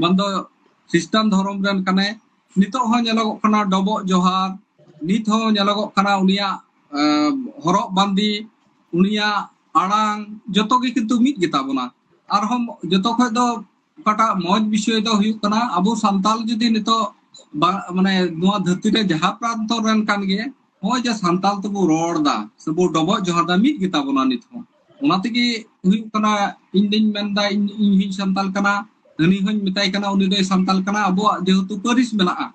ᱵᱟᱝ ᱫᱚ ᱠᱷᱨᱤᱥᱴᱟᱱ ᱫᱷᱚᱨᱚᱢ ᱨᱮᱱ ᱠᱟᱱᱟᱭ ᱱᱤᱛᱚᱜ ᱦᱚᱸ ᱧᱮᱞᱚᱜᱚᱜ ᱠᱟᱱᱟ ᱰᱚᱵᱚᱜ ᱡᱚᱦᱟᱨ ᱱᱤᱛ ᱦᱚᱸ ᱧᱮᱞᱚᱜᱚᱜ ᱠᱟᱱᱟ ᱩᱱᱤᱭᱟᱜ ᱟᱸ, ᱦᱚᱨᱚᱜ ᱵᱟᱸᱫᱮ ᱩᱱᱤᱭᱟᱜ ᱟᱲᱟᱝ ᱡᱚᱛᱚ ᱜᱮ ᱠᱤᱱᱛᱩ ᱢᱤᱫ ᱜᱮᱛᱟ ᱵᱚᱱᱟ ᱟᱨᱦᱚᱸ ᱡᱚᱛᱚ ᱠᱷᱚᱡ ᱫᱚ ᱚᱠᱟᱴᱟᱜ ᱢᱚᱡᱽ ᱵᱤᱥᱚᱭ ᱫᱚ ᱦᱩᱭᱩᱜ ᱠᱟᱱᱟ ᱟᱵᱚ ᱥᱟᱱᱛᱟᱞ ᱡᱩᱫᱤ ᱱᱤᱛᱚᱜ ᱵᱟ- ᱢᱟᱱᱮ ᱱᱚᱣᱟ ᱫᱷᱟᱹᱨᱛᱤ ᱨᱮ ᱡᱟᱦᱟᱸ ᱯᱨᱟᱱᱛᱚ ᱨᱮᱱ ᱠᱟᱱ ᱜᱮ ᱱᱚᱜᱼᱚᱭ ᱡᱮ ᱥᱟᱱᱛᱟᱲ ᱛᱮᱵᱚ ᱨᱚᱲ ᱫᱟ ᱥᱮᱵᱚ ᱰᱚᱵᱚᱜ ᱡᱚᱦᱟᱨ ᱫᱟ ᱢᱤᱫ ᱜᱮᱛᱟ ᱵᱚᱱᱟ ᱱᱤᱛ ᱦᱚᱸ ᱚᱱᱟ ᱛᱮᱜᱮ ᱦᱩᱭᱩᱜ ᱠᱟᱱᱟ ᱤᱧ ᱫᱚᱧ ᱢᱮᱱᱫᱟ ᱤᱧ ᱤᱧ ᱦᱚᱧ ᱥᱟᱱᱛᱟᱲ ᱠᱟᱱᱟ ᱦᱟᱹᱱᱤ ᱦᱚᱧ ᱢᱮᱛᱟᱭ ᱠᱟᱱᱟ ᱩᱱᱤ ᱫᱚᱭ ᱥᱟᱱᱛᱟᱲ ᱠᱟᱱᱟ ᱟᱵᱚᱣᱟᱜ ᱡᱮᱦᱮᱛᱩ ᱯᱟᱹᱨᱤᱥ ᱢᱮᱱᱟᱜᱼᱟ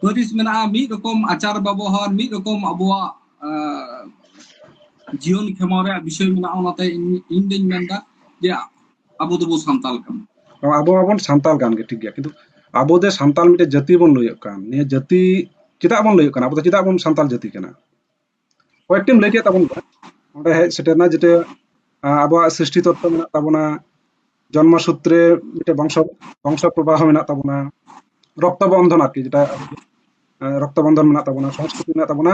ᱯᱟᱹᱨᱤᱥ ᱢᱮᱱᱟᱜᱼᱟ ᱢᱤᱫ ᱨᱚᱠᱚᱢ ᱟᱪᱟᱨ ᱵᱮᱵᱚᱦᱟᱨ ᱢᱤᱫ ᱨᱚᱠᱚᱢ ᱟᱵᱚᱣᱟᱜ ᱡᱤᱭᱚᱱ ᱠᱷᱮᱢᱟᱣ ᱨᱮᱭᱟᱜ ᱵᱤᱥᱚᱭ ᱢᱮᱱᱟᱜᱼᱟ ᱚᱱᱟᱛᱮ ᱤᱧ ᱫᱚᱧ ᱢᱮᱱᱫᱟ ᱡᱮ ᱟᱵᱚ ᱫᱚᱵᱚ ᱥᱟᱱᱛᱟᱞ ᱠᱟᱱᱟ ᱟᱵᱚ ᱢᱟᱵᱚᱱ ᱥᱟᱱᱛᱟᱞ ᱠᱟᱱ ᱜᱮ ᱴᱷᱤᱠ ᱜᱮᱭᱟ ᱠᱤᱱᱛᱩ ᱟᱵᱚ ᱫᱚ ᱥᱟᱱᱛᱟᱞ ᱢᱤᱫᱴᱮᱱ ᱡᱟᱹᱛᱤ ᱵᱚᱱ ᱞᱟᱹᱭᱚᱜ ᱠᱟᱱ ᱱᱤᱭᱟᱹ ᱡᱟᱹᱛᱤ ᱪᱮᱫᱟᱜ ᱵᱚᱱ ᱞᱟᱹᱭᱚᱜ ᱠᱟᱱᱟ ᱟᱵᱚ ᱫᱚ ᱪᱮᱫᱟᱜ ᱵᱚᱱ ᱥᱟᱱᱛᱟᱞ ᱡᱟᱹᱛᱤ ᱠᱟᱱᱟ ᱠᱚᱭᱮᱠᱴᱤᱢ ᱞᱟᱹᱭ ᱠᱮᱫ ᱛᱟᱵᱚᱱ ᱜᱮᱭᱟ ᱚᱸᱰᱮ ᱦᱮᱡ ᱥᱮᱴᱮᱨᱱᱟ ᱡᱮᱴᱟ ᱟᱵᱚᱣᱟᱜ ᱥᱨᱤᱥᱴᱤ ᱛᱚᱛᱛᱚ ᱢᱮᱱᱟᱜ ᱛᱟᱵᱚᱱᱟ ᱡᱚᱱᱢᱚ ᱥᱩᱛᱨᱮ ᱢᱤᱫᱴᱮᱱ ᱵᱚᱝᱥᱚ ᱵᱚᱝᱥᱚ ᱯᱨᱚᱵᱟᱦᱚ ᱢᱮᱱᱟᱜ ᱛᱟᱵᱚᱱᱟ ᱨᱚᱠᱛᱚ ᱵᱚᱱᱫᱷᱚᱱ ᱟᱨᱠᱤ ᱡᱮᱴᱟ ᱨᱚᱠᱛᱚ ᱵᱚᱱᱫᱷᱚᱱ ᱢᱮᱱᱟᱜ ᱛᱟᱵᱚᱱᱟ ᱥᱚᱝᱥᱠᱨᱤᱛᱤ ᱢᱮᱱᱟᱜ ᱛᱟᱵᱚᱱᱟ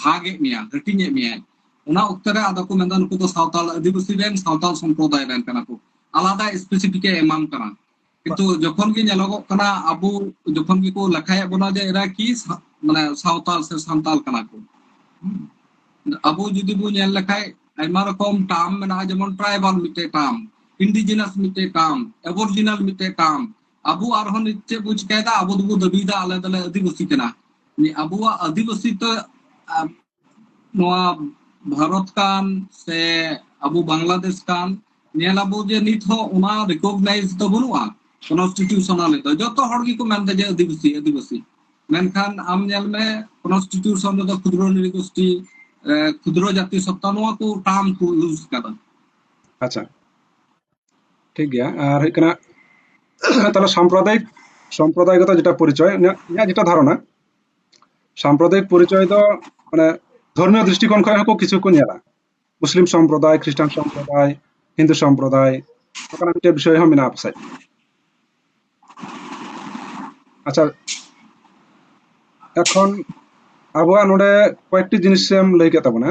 ᱵᱷᱟᱜ ᱮᱫ ᱢᱮᱭᱟ ᱦᱟᱹᱴᱤᱧ ᱮᱫ ᱢᱮᱭᱟᱭ ᱚᱱᱟ ᱚᱠᱛᱚ ᱨᱮ ᱟᱫᱚ ᱠᱚ ᱢᱮᱱᱫᱟ ᱱᱩᱠᱩ ᱫᱚ ᱥᱟᱶᱛᱟᱞ ᱟᱹᱫᱤᱵᱟᱹᱥᱤ ᱨᱮᱱ ᱥᱟᱶᱛᱟᱞ ᱥᱚᱢᱯᱨᱚᱫᱟᱭ ᱨᱮᱱ ᱠᱟᱱᱟ ᱠᱚ ᱟᱞᱟᱫᱟ ᱥᱯᱮᱥᱤᱯᱷᱤᱠ ᱮ ᱮᱢᱟᱢ ᱠᱟᱱᱟ ᱠᱤᱱᱛᱩ ᱡᱚᱠᱷᱚᱱ ᱜᱮ ᱧᱮᱞᱚᱜᱚᱜ ᱠᱟᱱᱟ ᱟᱵᱚ ᱡᱚᱠᱷᱚᱱ ᱜᱮᱠᱚ ᱞᱮᱠᱷᱟᱭᱮᱫ ᱵᱚᱱᱟ ᱡᱮ ᱮᱨᱟ ᱠᱤ ᱥᱟ- ᱢᱟᱱᱮ ᱥᱟᱶᱛᱟᱞ ᱥᱮ ᱥᱟᱱᱛᱟᱞ ᱠᱟᱱᱟ ᱠᱚ ᱦᱩᱸ᱾ ᱟᱵᱚ ᱡᱩᱫᱤ ᱵᱚ ᱧᱮᱞ ᱞᱮᱠᱷᱟᱡ ᱟᱭᱢᱟ ᱨᱚᱠᱚᱢ ᱴᱟর্ম ᱢᱮᱱᱟᱜᱼᱟ ᱡᱮᱢᱚᱱ ᱴᱨᱟᱭᱵᱟᱞ ᱢᱤᱫᱴᱮᱡ ᱴᱟর্ম ᱤᱱᱰᱤᱡᱤᱱᱟᱥ ᱢᱤᱫᱴᱮᱡ ᱴᱟর্ম ᱮᱵᱚᱨᱡᱤᱱᱟᱞ ᱢᱤᱫᱴᱮᱡ ᱴᱟর্ম ᱟᱵᱚ ᱟᱨᱦᱚᱸ ᱱᱤᱛ ᱪᱮᱫ ᱵᱚ ᱪᱤᱠᱟᱭᱮᱫᱟ ᱟᱵᱚ ᱫᱚᱵᱚ ᱫᱟᱹᱵᱤᱭᱮᱫᱟ ᱟᱞᱮ ᱫᱚᱞᱮ ᱟᱹᱫᱤᱵᱟᱹᱥᱤ ᱠᱟᱱᱟ ᱟᱵᱚᱣᱟᱜ ᱟᱹᱫᱤᱵᱟᱹᱥᱤ ᱛᱚ ᱱᱚᱣᱟ ᱵᱷᱟᱨᱚᱛ ᱠᱟᱱ ᱥᱮ ᱟᱵᱚ ᱵᱟᱝᱞᱟᱫᱮᱥ ᱠᱟᱱ ᱧᱮᱞ ᱟᱵᱚ ᱡᱮ ᱱᱤᱛ ᱦᱚᱸ ᱚᱱᱟ ᱨᱤᱠᱚᱜᱱᱟᱭᱤᱡᱽ ᱫᱚ ᱵᱟᱹᱱᱩᱜᱼᱟ ᱠᱚᱱᱥᱴᱤᱴᱤᱭᱩᱥᱚᱱᱟᱞ ᱫᱚ ᱡᱚᱛᱚ ᱦᱚᱲ ᱜᱮᱠᱚ ᱢᱮᱱᱫᱟ ᱡᱮ ᱟᱹᱫᱤᱵᱟᱹᱥᱤ ᱟᱹᱫᱤᱵᱟᱹᱥᱤ ᱢᱮᱱᱠᱷᱟᱱ ᱟᱢ ᱧᱮᱞ ᱢᱮ ᱠᱚᱱᱥᱴᱤᱴᱤᱭᱩᱥᱚᱱ ᱨᱮᱫᱚ ᱠᱷᱩᱫᱨᱚ ᱱᱤᱨᱤᱜᱳᱥᱴᱤ ᱠᱷᱩᱫᱨᱚ ᱡᱟᱛᱤ ᱥᱚᱛᱛᱟ ᱱᱚᱣᱟ ᱠᱚ ᱴᱟর্ম ᱠᱚ ᱤউজ ᱠᱟᱫᱟ ᱟᱪᱪᱷᱟ ᱴᱷᱤᱠ ᱜᱮᱭᱟ ᱟᱨ ᱦᱩᱭᱩᱜ ᱠᱟᱱᱟ ᱛᱟᱦᱚᱞᱮ ᱥᱟᱢᱯᱨᱚᱫᱟᱭᱤᱠ ᱥᱟᱢᱯᱨᱚᱫᱟᱭᱤᱠᱚᱛᱟ ᱡᱮᱴᱟ ᱯᱚᱨᱤᱪᱚᱭ ᱤᱧᱟᱹᱜ ᱡᱮᱴᱟ ᱫᱷᱟᱨᱚᱱᱟ ᱥᱟᱢᱯᱨᱚᱫᱟᱭᱤᱠ ᱯᱚᱨᱤᱪᱚᱭ ᱫᱚ ᱢᱟᱱᱮ ᱫᱷᱚᱨᱢᱤᱭᱚ ᱫᱨᱤᱥᱴᱤᱠᱳণ ᱠᱷᱚᱱ ᱦᱚᱸᱠᱚ ᱠᱤᱪᱷᱩ ᱠᱚ ᱧᱮᱞᱟ ᱢᱩᱥᱞᱤᱢ ᱥᱚᱢᱯᱨᱚᱫᱟᱭ ᱠᱷᱨᱤᱥᱴᱟᱱ ᱥᱚᱢᱯᱨᱚᱫᱟᱭ ᱦᱤᱱᱫᱩ ᱥᱚᱢᱯᱨᱚᱫᱟᱭ ᱚᱱᱠᱟᱱᱟᱜ ᱢᱤᱫᱴᱮᱱ ᱵᱤᱥᱚᱭ ᱦᱚᱸ ᱢᱮᱱᱟᱜᱼᱟ ᱯᱟᱥᱮᱡ ᱟᱪᱪᱷᱟ ᱮᱠᱷᱚᱱ ᱟᱵᱚᱣᱟᱜ ᱱᱚᱰᱮ ᱠᱚᱭᱮᱠᱴᱤ ᱡᱤᱱᱤᱥᱮᱢ ᱞᱟᱹᱭ ᱠᱮᱫ ᱛᱟᱵᱚᱱᱟ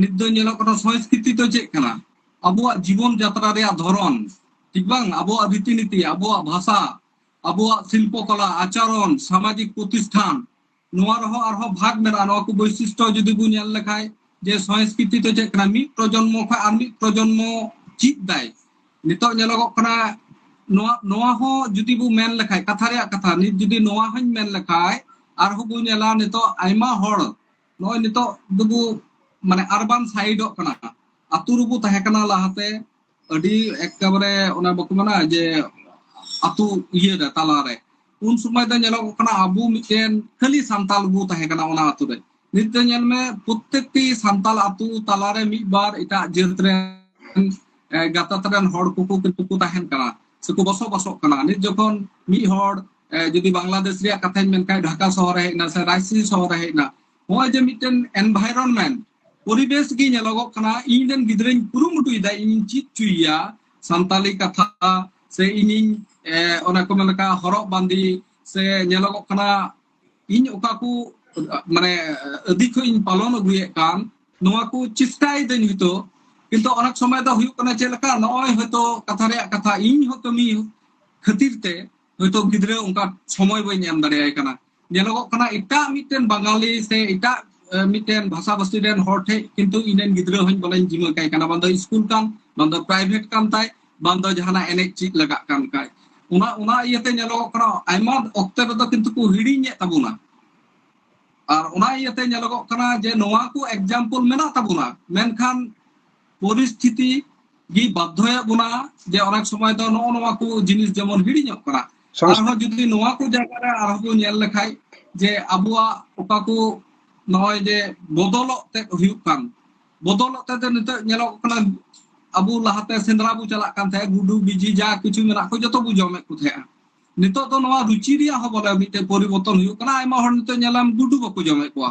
ᱱᱤᱛ ᱫᱚ ᱧᱮᱞᱚᱜ ᱠᱟᱱᱟ ᱥᱚᱝᱥᱠᱨᱤᱛᱤ ᱫᱚ ᱪᱮᱫ ᱠᱟᱱᱟ ᱟᱵᱚᱣᱟᱜ ᱡᱤᱵᱚᱱ ᱡᱟᱛᱨᱟ ᱨᱮᱭᱟᱜ ᱫᱷᱚᱨᱚᱱ ᱴᱷᱤᱠ ᱵᱟᱝ ᱟᱵᱚᱣᱟᱜ ᱨᱤᱛᱤ ᱱᱤᱛᱤ ᱟᱵᱚᱣᱟᱜ ᱵᱷᱟᱥᱟ ᱟᱵᱚᱣᱟᱜ ᱥᱤᱞᱯᱚ ᱠᱚᱞᱟ ᱟᱪᱟᱨᱚᱱ ᱥᱟᱢᱟᱡᱤᱠ ᱯᱨᱚᱛᱤᱥᱴᱷᱟᱱ ᱱᱚᱣᱟ ᱨᱮᱦᱚᱸ ᱟᱨᱦᱚᱸ ᱵᱷᱟᱜᱽ ᱢᱮᱱᱟᱜᱼᱟ ᱱᱚᱣᱟ ᱠᱚ ᱵᱳᱭᱥᱤᱥᱴᱚ ᱡᱩᱫᱤ ᱵᱚ ᱧᱮᱞ ᱞᱮᱠᱷᱟᱡ ᱡᱮ ᱥᱚᱝᱥᱠᱨᱤᱛᱤ ᱫᱚ ᱪᱮᱫ ᱠᱟᱱᱟ ᱢᱤᱫ ᱯᱨᱚᱡᱚᱱᱢᱚ ᱠᱷᱚᱱ ᱟᱨ ᱢᱤᱫ ᱯᱨᱚᱡᱚᱱᱢᱚ ᱪᱮᱫ ᱫᱟᱭ ᱱᱤᱛᱚᱜ ᱧᱮᱞᱚᱜᱚᱜ ᱠᱟᱱᱟ ᱱᱚᱣᱟ ᱱᱚᱣᱟ ᱦᱚᱸ ᱡᱩᱫᱤ ᱵᱚ ᱢᱮᱱ ᱞᱮᱠᱷᱟᱡ ᱠᱟᱛᱷᱟ ᱨᱮᱭᱟᱜ ᱠᱟᱛᱷᱟ ᱱᱤᱛ ᱡᱩᱫᱤ ᱱᱚᱣᱟ ᱦᱚᱸᱧ ᱢᱮᱱ ᱞᱮᱠᱷᱟᱡ ᱟᱨᱦᱚᱸ ᱵᱚ ᱧᱮᱞᱟ ᱱᱤᱛᱚᱜ ᱟᱭᱢᱟ ᱦᱚᱲ ᱱᱚᱜᱼᱚᱭ ᱱᱤᱛᱚᱜ ᱫᱚᱵᱚ ᱢᱟᱱᱮ ᱟᱨᱵᱟᱱ ᱥᱟᱭᱤᱰᱚᱜ ᱠᱟᱱᱟ ᱟᱛᱳ ᱨᱮᱵᱚ ᱛᱟᱦᱮᱸ ᱠᱟᱱᱟ ᱞᱟᱦᱟᱛᱮ ᱟᱹᱰᱤ ᱮᱠᱮᱵᱟᱨᱮ ᱚᱱᱟ ᱵᱟᱠᱚ ᱢᱮᱱᱟ ᱡᱮ ᱟᱛᱳ ᱤᱭᱟᱹ ᱨᱮ ᱛᱟᱞᱟᱨᱮ ᱩᱱ ᱥᱚᱢᱚᱭ ᱫᱚ ᱧᱮᱞᱚᱜ ᱠᱟᱱᱟ ᱟᱵᱚ ᱢᱤᱫᱴᱮᱱ ᱠᱷᱟᱹᱞᱤ ᱥᱟᱱᱛᱟᱞ ᱵᱚ ᱛᱟᱦᱮᱸ ᱠᱟᱱᱟ ᱚᱱᱟ ᱟᱛᱳ ᱨᱮ ᱱᱤᱛ ᱫᱚ ᱧᱮᱞ ᱢᱮ ᱯᱨᱚᱛᱮᱠᱴᱤ ᱥᱟᱱᱛᱟᱞ ᱟᱛᱳ ᱛᱟᱞᱟᱨᱮ ᱢᱤᱫ ᱵᱟᱨ ᱮᱴᱟᱜ ᱡᱟᱹᱛ ᱨᱮᱱ ᱜᱟᱛᱟᱛ ᱨᱮᱱ ᱦᱚᱲ ᱠᱚᱠᱚ ᱠᱤᱱᱛᱩ ᱠᱚ ᱛᱟᱦᱮᱱ ᱠᱟᱱᱟ ᱥᱮᱠᱚ ᱵᱚᱥᱚᱵᱟᱥᱚᱜ ᱠᱟᱱᱟ ᱱᱤᱛ ᱡᱚᱠᱷᱚᱱ ᱢᱤᱫ ᱦᱚᱲ ᱡᱩᱫᱤ ᱵᱟᱝᱞᱟᱫᱮᱥ ᱨᱮᱭᱟᱜ ᱠᱟᱛᱷᱟᱧ ᱢᱮᱱ ᱠᱷᱟᱱ ᱰᱷᱟᱠᱟ ᱥᱚᱦᱚᱨ ᱨᱮ ᱦᱮᱡ ᱮᱱᱟ ᱥᱮ ᱨᱟᱭᱥᱤ ᱥᱚᱦᱚᱨ ᱨᱮ ᱦᱮᱡ ᱮᱱᱟ ᱱᱚᱜᱼᱚᱭ ᱡᱮ ᱢᱤᱫᱴᱮᱱ ᱮᱱᱵᱷᱟᱭᱨᱚᱱᱢᱮᱱᱴ ᱯᱚᱨᱤᱵᱮᱥ ᱜᱮ ᱧᱮᱞᱚᱜᱚᱜ ᱠᱟᱱᱟ ᱤᱧ ᱨᱮᱱ ᱜᱤᱫᱽᱨᱟᱹᱧ ᱠᱩᱨᱩᱢᱩᱴᱩᱭᱮᱫᱟ ᱤᱧᱤᱧ ᱪᱮᱫ ᱦᱚᱪᱚᱭᱮᱭᱟ ᱥᱟᱱᱛᱟᱞᱤ ᱠᱟᱛᱷᱟ ᱥᱮ ᱤᱧᱤᱧ ᱮᱸ, ᱚᱱᱟ ᱠᱚ ᱢᱮᱱ ᱞᱮᱠᱟ ᱦᱚᱨᱚᱜ ᱵᱟᱸᱫᱮ ᱥᱮ ᱧᱮᱞᱚᱜᱚᱜ ᱠᱟᱱᱟ ᱤᱧ ᱚᱠᱟ ᱠᱚ ᱢᱟᱱᱮ ᱟᱹᱫᱤ ᱠᱷᱚᱱ ᱤᱧ ᱯᱟᱞᱚᱱ ᱟᱹᱜᱩᱭᱮᱫ ᱠᱟᱱ ᱱᱚᱣᱟ ᱠᱚ ᱪᱮᱥᱴᱟᱭᱮᱫᱟᱹᱧ ᱦᱚᱭᱛᱳ ᱠᱤᱱᱛᱩ ᱚᱱᱮᱠ ᱥᱚᱢᱚᱭ ᱫᱚ ᱦᱩᱭᱩᱜ ᱠᱟᱱᱟ ᱪᱮᱫ ᱞᱮᱠᱟ ᱱᱚᱜᱼᱚᱭ ᱦᱚᱭᱛᱳ ᱠᱟᱛᱷᱟ ᱨᱮᱭᱟᱜ ᱠᱟᱛᱷᱟ ᱤᱧ ᱦᱚᱸ ᱠᱟᱹᱢᱤ ᱠᱷᱟᱹᱛᱤᱨ ᱛᱮ ᱦᱚᱭᱛᱳ ᱜᱤᱫᱽᱨᱟᱹ ᱚᱱᱠᱟ ᱥᱚᱢᱚᱭ ᱵᱟᱹᱧ ᱮᱢ ᱫᱟᱲᱮᱭᱟᱭ ᱠᱟᱱᱟ ᱧᱮᱞᱚᱜᱚᱜ ᱠᱟᱱᱟ ᱮᱴᱟᱜ ᱢᱤᱫᱴᱮᱱ ᱵᱟঙᱟᱞᱤ ᱥᱮ ᱮᱴᱟᱜ ᱮ, ᱢᱤᱫᱴᱮᱱ ᱵᱷᱟᱥᱟ ᱵᱷᱟᱥᱤ ᱨᱮᱱ ᱦᱚᱲ ᱴᱷᱮᱡ ᱠᱤᱱᱛᱩ ᱤᱧ ᱨᱮᱱ ᱜᱤᱫᱽᱨᱟᱹ ᱦᱚᱧ ᱵᱚᱞᱮᱧ ᱡᱤᱢᱟᱹ ᱠᱟᱭ ᱠᱟᱱᱟ ᱵᱟᱝ ᱫᱚ ᱥᱠᱩᱞ ᱠᱟᱱ ᱵᱟᱝ ᱫᱚ ᱯᱨᱟᱭᱵᱷᱮᱴ ᱠᱟᱱ ᱛᱟᱭ ᱵᱟᱝ ᱫᱚ ᱡᱟᱦᱟᱱᱟᱜ ᱮᱱᱮᱡ ᱪᱮᱫ ᱞᱟᱜᱟᱜ ᱠᱟᱱ ᱠᱷᱟᱡ ᱚᱱᱟ ᱚᱱᱟ ᱤᱭᱟᱹᱛᱮ ᱧᱮᱞᱚᱜᱚᱜ ᱠᱟᱱᱟ ᱟᱭᱢᱟ ᱚᱠᱛᱮ ᱨᱮᱫᱚ ᱠᱤᱱᱛᱩ ᱠᱚ ᱦᱤᱲᱤᱧᱮᱫ ᱛᱟᱵᱚᱱᱟ ᱟᱨ ᱚᱱᱟ ᱤᱭᱟᱹᱛᱮ ᱧᱮᱞᱚᱜᱚᱜ ᱠᱟᱱᱟ ᱡᱮ ᱱᱚᱣᱟ ᱠᱚ ᱮᱠᱡᱟᱢᱯᱚᱞ ᱢᱮᱱᱟᱜ ᱛᱟᱵᱚᱱᱟ ᱢᱮᱱᱠᱷᱟᱱ ᱯᱚᱨᱤᱥᱛᱷᱤᱛᱤ ᱜᱮ ᱵᱟᱫᱽᱫᱷᱚᱭᱮᱫ ᱵᱚᱱᱟ ᱡᱮ ᱚᱱᱮᱠ ᱥᱚᱢᱚᱭ ᱫᱚ ᱱᱚᱜᱼᱚ ᱱᱚᱣᱟ ᱠᱚ ᱡᱤᱱᱤᱥ ᱡᱮᱢᱚᱱ ᱦᱤᱲᱤᱧᱚᱜ ᱠᱟᱱᱟ ᱟᱨᱦᱚᱸ ᱡᱩᱫᱤ ᱱᱚᱣᱟ ᱠᱚ ᱡᱟᱭᱜᱟ ᱨᱮ ᱟᱨᱦᱚᱸ ᱵᱚᱱ ᱧᱮᱞ ᱞᱮᱠᱷᱟᱡ ᱡᱮ ᱟᱵᱚᱣᱟᱜ ᱚᱠᱟ ᱠᱚ ᱱᱚᱜᱼᱚᱭ ᱡᱮ ᱵᱚᱫᱚᱞᱚᱜ ᱛᱮ ᱦᱩᱭᱩᱜ ᱠᱟᱱ ᱵᱚᱫᱚᱞᱚᱜ ᱛᱮ ᱱᱤᱛᱚᱜ ᱧᱮᱞᱚᱜ ᱠᱟᱱᱟ ᱟᱵᱚ ᱞᱟᱦᱟᱛᱮ ᱥᱮᱸᱫᱽᱨᱟ ᱵᱚ ᱪᱟᱞᱟᱜ ᱠᱟᱱ ᱛᱟᱦᱮᱸᱫ ᱜᱩᱰᱩ ᱵᱤᱡᱤ ᱡᱟ ᱠᱤᱪᱷᱩ ᱢᱮᱱᱟᱜ ᱠᱚ ᱡᱚᱛᱚ ᱵᱚ ᱡᱚᱢᱮᱫ ᱠᱚ ᱛᱟᱦᱮᱸᱫᱼᱟ ᱱᱤᱛᱚᱜ ᱫᱚ ᱱᱚᱣᱟ ᱨᱩᱪᱤ ᱨᱮᱭᱟᱜ ᱦᱚᱸ ᱵᱚᱞᱮ ᱢᱤᱫᱴᱮᱱ ᱯᱚᱨᱤᱵᱚᱨᱛᱚᱱ ᱦᱩᱭᱩᱜ ᱠᱟᱱᱟ ᱟᱭᱢᱟ ᱦᱚᱲ ᱱᱤᱛᱚᱜ ᱧᱮᱞᱟᱢ ᱜᱩᱰᱩ ᱵᱟᱠᱚ ᱡᱚᱢᱮᱫ ᱠᱚᱣᱟ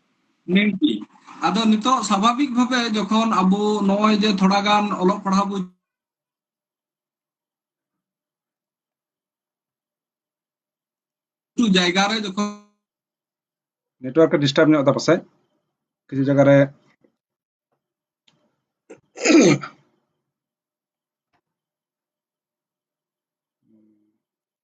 ᱱᱤᱝᱠᱤ ᱟᱫᱚ ᱱᱤᱛᱚᱜ ᱥᱟᱵᱷᱟᱵᱤᱠ ᱵᱷᱟᱵᱮ ᱡᱚᱠᱷᱚᱱ ᱟᱵᱚ ᱱᱚᱜᱼᱚᱭ ᱡᱮ ᱛᱷᱚᱲᱟ ᱜᱟᱱ ᱚᱞᱚᱜ ᱯᱟᱲᱦᱟᱣ ᱵᱚ ᱡᱟᱭᱜᱟ ᱨᱮ ᱡᱚᱠᱷᱚᱱ ᱱᱮᱴᱣᱟᱨᱠ ᱰᱤᱥᱴᱟᱨᱵ ᱧᱚᱜ ᱫᱟ ᱯᱟᱥᱮ ᱠᱤᱪᱷᱩ ᱡᱟᱭᱜᱟ ᱨᱮ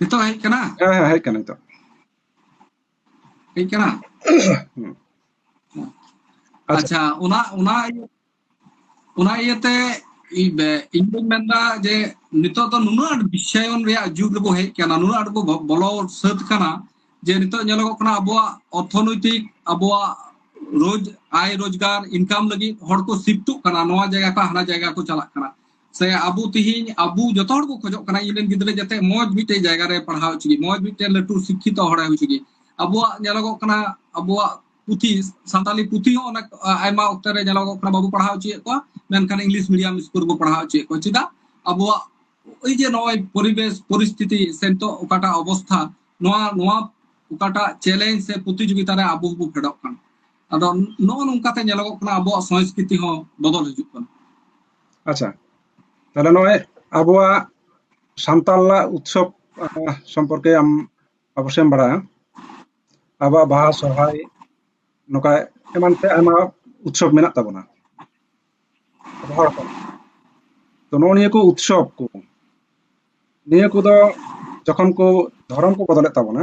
ᱱᱤᱛᱚᱜ ᱦᱮᱡ ᱠᱟᱱᱟ ᱦᱮᱸ ᱦᱮᱸ ᱦᱮᱡ ᱠᱟᱱᱟ ᱱᱤᱛᱚᱜ ᱦᱮᱡ ᱠᱟᱱᱟ ᱟᱪᱪᱷᱟ ᱚᱱᱟ ᱚᱱᱟ ᱚᱱᱟ ᱤᱭᱟᱹᱛᱮ ᱤᱧ ᱫᱚᱧ ᱢᱮᱱᱫᱟ ᱡᱮ ᱱᱤᱛᱚᱜ ᱫᱚ ᱱᱩᱱᱟᱹᱜ ᱟᱸᱴ ᱵᱤᱥᱟᱭᱚᱱ ᱨᱮᱭᱟᱜ ᱡᱩᱜᱽ ᱨᱮᱵᱚ ᱦᱮᱡ ᱠᱟᱱᱟ ᱱᱩᱱᱟᱹᱜ ᱟᱸᱴ ᱵᱚ ᱵᱚᱞᱚ ᱥᱟᱹᱛ ᱠᱟᱱᱟ ᱡᱮ ᱱᱤᱛᱚᱜ ᱧᱮᱞᱚᱜᱚᱜ ᱠᱟᱱᱟ ᱟᱵᱚᱣᱟᱜ ᱚᱨᱛᱷᱚᱱᱳᱭᱛᱤᱠ ᱟᱵᱚᱣᱟᱜ ᱨᱳᱡᱽ ᱟᱭ ᱨᱳᱡᱽᱜᱟᱨ ᱤᱱᱠᱟᱢ ᱞᱟᱹᱜᱤᱫ ᱦᱚᱲ ᱠᱚ ᱥᱤᱯᱴᱚᱜ ᱠᱟᱱᱟ ᱱᱚᱣᱟ ᱡᱟᱭᱜᱟ ᱠᱷᱚᱱ ᱦᱟᱱᱟ ᱡᱟᱭᱜᱟ ᱠᱚ ᱪᱟᱞᱟᱜ ᱠᱟᱱᱟ ᱥᱮ ᱟᱵᱚ ᱛᱤᱦᱤᱧ ᱟᱵᱚ ᱡᱚᱛᱚ ᱦᱚᱲ ᱠᱚ ᱠᱷᱚᱡᱚᱜ ᱠᱟᱱᱟ ᱤᱧ ᱨᱮᱱ ᱜᱤᱫᱽᱨᱟᱹ ᱡᱟᱛᱮ ᱢᱚᱡᱽ ᱢᱤᱫᱴᱮᱡ ᱡᱟᱭᱜᱟ ᱨᱮ ᱯᱟᱲᱦᱟᱣ ᱦᱚᱪᱚ ᱜᱮ ᱢᱚᱡᱽ ᱢᱤᱫᱴᱮᱡ ᱞᱟᱹᱴᱩ ᱥᱤᱠᱠᱷᱤᱛᱚ ᱦᱚᱲᱮ ᱦᱩᱭ ᱦᱚᱪᱚ ᱜᱮ ᱟᱵᱚᱣᱟᱜ ᱧᱮᱞᱚᱜᱚᱜ ᱠᱟᱱᱟ ᱟᱵᱚᱣᱟᱜ ᱯᱩᱛᱷᱤ ᱥᱟᱱᱛᱟᱞᱤ ᱯᱩᱛᱷᱤ ᱦᱚᱸ ᱚᱱᱟ ᱟᱭᱢᱟ ᱚᱠᱛᱚ ᱨᱮ ᱧᱮᱞᱚᱜᱚᱜ ᱠᱟᱱᱟ ᱵᱟᱵᱚ ᱯᱟᱲᱦᱟᱣ ᱦᱚᱪᱚᱭᱮᱫ ᱠᱚᱣᱟ ᱢᱮᱱᱠᱷᱟᱱ ᱤᱝᱞᱤᱥ ᱢᱤᱰᱤᱭᱟᱢ ᱥᱠᱩᱞ ᱵᱚ ᱯᱟᱲᱦᱟᱣ ᱦᱚᱪᱚᱭᱮᱫ ᱠᱚᱣᱟ ᱪᱮᱫᱟᱜ ᱟᱵᱚᱣᱟᱜ ᱳই ᱡᱮ ᱱᱚᱜᱼᱚᱭ ᱯᱚᱨᱤᱵᱮᱥ ᱯᱚᱨᱤᱥᱛᱷᱤᱛᱤ ᱥᱮ ᱱᱤᱛᱚᱜ ᱚᱠᱟᱴᱟᱜ ᱚᱵᱚᱥᱛᱷᱟ ᱱᱚᱣᱟ ᱱᱚᱣᱟ ᱚᱠᱟᱴᱟᱜ ᱪᱮᱞᱮᱧᱡᱽ ᱥᱮ ᱯᱨᱚᱛᱤᱡᱳᱜᱤᱛᱟ ᱨᱮ ᱟᱵᱚ ᱵᱚ ᱯᱷᱮᱰᱚᱜ ᱠᱟᱱᱟ ᱟᱫᱚ ᱱᱚᱜᱼᱚ ᱱᱚᱝᱠᱟᱛᱮ ᱧᱮᱞᱚᱜᱚᱜ ᱠᱟᱱᱟ ᱟᱵᱚᱣᱟᱜ ᱥᱚᱝᱥᱠᱨᱤᱛᱤ ᱦᱚᱸ ᱵᱚᱫᱚᱞ ᱦᱤᱡᱩᱜ ᱠᱟᱱᱟ ᱟᱪᱪᱷᱟ ᱛᱟᱦᱞᱮ ᱱᱚᱜᱼᱚᱭ ᱟᱵᱚᱣᱟᱜ ᱥᱟᱱᱛᱟᱞᱟᱜ ᱩᱛᱥᱚᱵ ᱥᱚᱢᱯᱚᱨᱠᱮ ᱟᱢ ᱚᱵᱚᱥᱥᱚᱭ ᱮᱢ ᱵᱟᱲᱟᱭᱟ ᱟᱵᱚᱣᱟᱜ ᱵᱟᱦᱟ ᱥᱚᱨᱦᱟᱭ ᱱᱚᱝᱠᱟ ᱮᱢᱟᱱ ᱛᱮ ᱟᱭᱢᱟ ᱩᱛᱥᱚᱵ ᱢᱮᱱᱟᱜ ᱛᱟᱵᱚᱱᱟ ᱦᱚᱲ ᱠᱚ ᱛᱚ ᱱᱚᱜᱼᱚ ᱱᱤᱭᱟᱹ ᱠᱚ ᱩᱛᱥᱚᱵ ᱠᱚ ᱱᱤᱭᱟᱹ ᱠᱚᱫᱚ ᱡᱚᱠᱷᱚᱱ ᱠᱚ ᱫᱷᱚᱨᱚᱢ ᱠᱚ ᱵᱚᱫᱚᱞᱮᱫ ᱛᱟᱵᱚᱱᱟ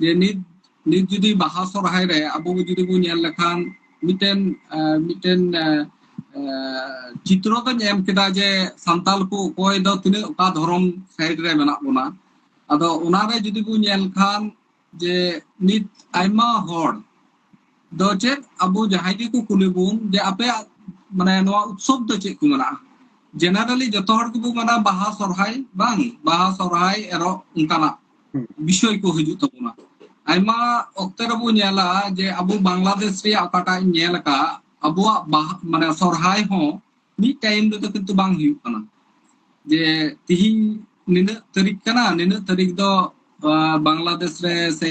ᱡᱮ ᱱᱤᱛ ᱱᱤᱛ ᱡᱩᱫᱤ ᱵᱟᱦᱟ ᱥᱚᱨᱦᱟᱭ ᱨᱮ ᱟᱵᱚ ᱡᱩᱫᱤ ᱵᱚᱱ ᱧᱮᱞ ᱞᱮᱠᱷᱟᱱ ᱢᱤᱫᱴᱮᱱ ᱟᱸ, ᱢᱤᱫᱴᱮᱱ ᱟᱸ, ᱟᱸ, ᱪᱤᱛᱨᱚ ᱫᱚᱧ ᱮᱢ ᱠᱮᱫᱟ ᱡᱮ ᱥᱟᱱᱛᱟᱲ ᱠᱚ ᱚᱠᱚᱭ ᱫᱚ ᱛᱤᱱᱟᱹᱜ ᱚᱠᱟ ᱫᱷᱚᱨᱚᱢ ᱥᱟᱭᱤᱰ ᱨᱮ ᱢᱮᱱᱟᱜ ᱵᱚᱱᱟ ᱟᱫᱚ ᱚᱱᱟᱨᱮ ᱡᱩᱫᱤ ᱵᱚᱱ ᱧᱮᱞ ᱠᱷᱟᱱ ᱡᱮ ᱱᱤᱛ ᱟᱭᱢᱟ ᱦᱚᱲ ᱫᱚ ᱪᱮᱫ ᱟᱵᱚ ᱡᱟᱦᱟᱸᱭ ᱜᱮᱠᱚ ᱠᱩᱞᱤ ᱵᱚᱱ ᱡᱮ ᱟᱯᱮᱭᱟᱜ ᱢᱟᱱᱮ ᱱᱚᱣᱟ ᱩᱛᱥᱚᱵ ᱫᱚ ᱪᱮᱫ ᱠᱚ ᱢᱮᱱᱟᱜᱼᱟ ᱡᱮᱱᱟᱨᱮᱞᱤ ᱡᱚᱛᱚ ᱦᱚᱲ ᱜᱮᱵᱚ ᱢᱮᱱᱟ ᱵᱟᱦᱟ ᱥᱚᱨᱦᱟᱭ ᱵᱟᱝ ᱵᱟᱦᱟ ᱥᱚᱨᱦᱟᱭ ᱮᱨᱚᱜ ᱚᱱᱠᱟᱱᱟᱜ ᱵᱤᱥᱚᱭ ᱠᱚ ᱦᱤᱡᱩᱜ ᱛᱟᱵᱚᱱᱟ ᱟᱭᱢᱟ ᱚᱠᱛᱮ ᱨᱮᱵᱚ ᱧᱮᱞᱟ ᱡᱮ ᱟᱵᱚ ᱵᱟᱝᱞᱟᱫᱮᱥ ᱨᱮᱭᱟᱜ ᱚᱠᱟᱴᱟᱜ ᱤᱧ ᱧᱮᱞ ᱟᱠᱟᱫ ᱟᱵᱚᱣᱟᱜ ᱵᱟᱦᱟ ᱢᱟᱱᱮ ᱥᱚᱨᱦᱟᱭ ᱦᱚᱸ ᱢᱤᱫ ᱴᱟᱭᱤᱢ ᱨᱮᱫᱚ ᱠᱤᱱᱛᱩ ᱵᱟᱝ ᱦᱩᱭᱩᱜ ᱠᱟᱱᱟ ᱡᱮ ᱛᱤᱦᱤᱧ ᱱᱤᱱᱟᱹᱜ ᱛᱟᱹᱨᱤᱠᱷ ᱠᱟᱱᱟ ᱱᱤᱱᱟᱹᱜ ᱛᱟᱹᱨᱤᱠᱷ ᱫᱚ ᱟᱸ, ᱵᱟᱝᱞᱟᱫᱮᱥ ᱨᱮ ᱥᱮ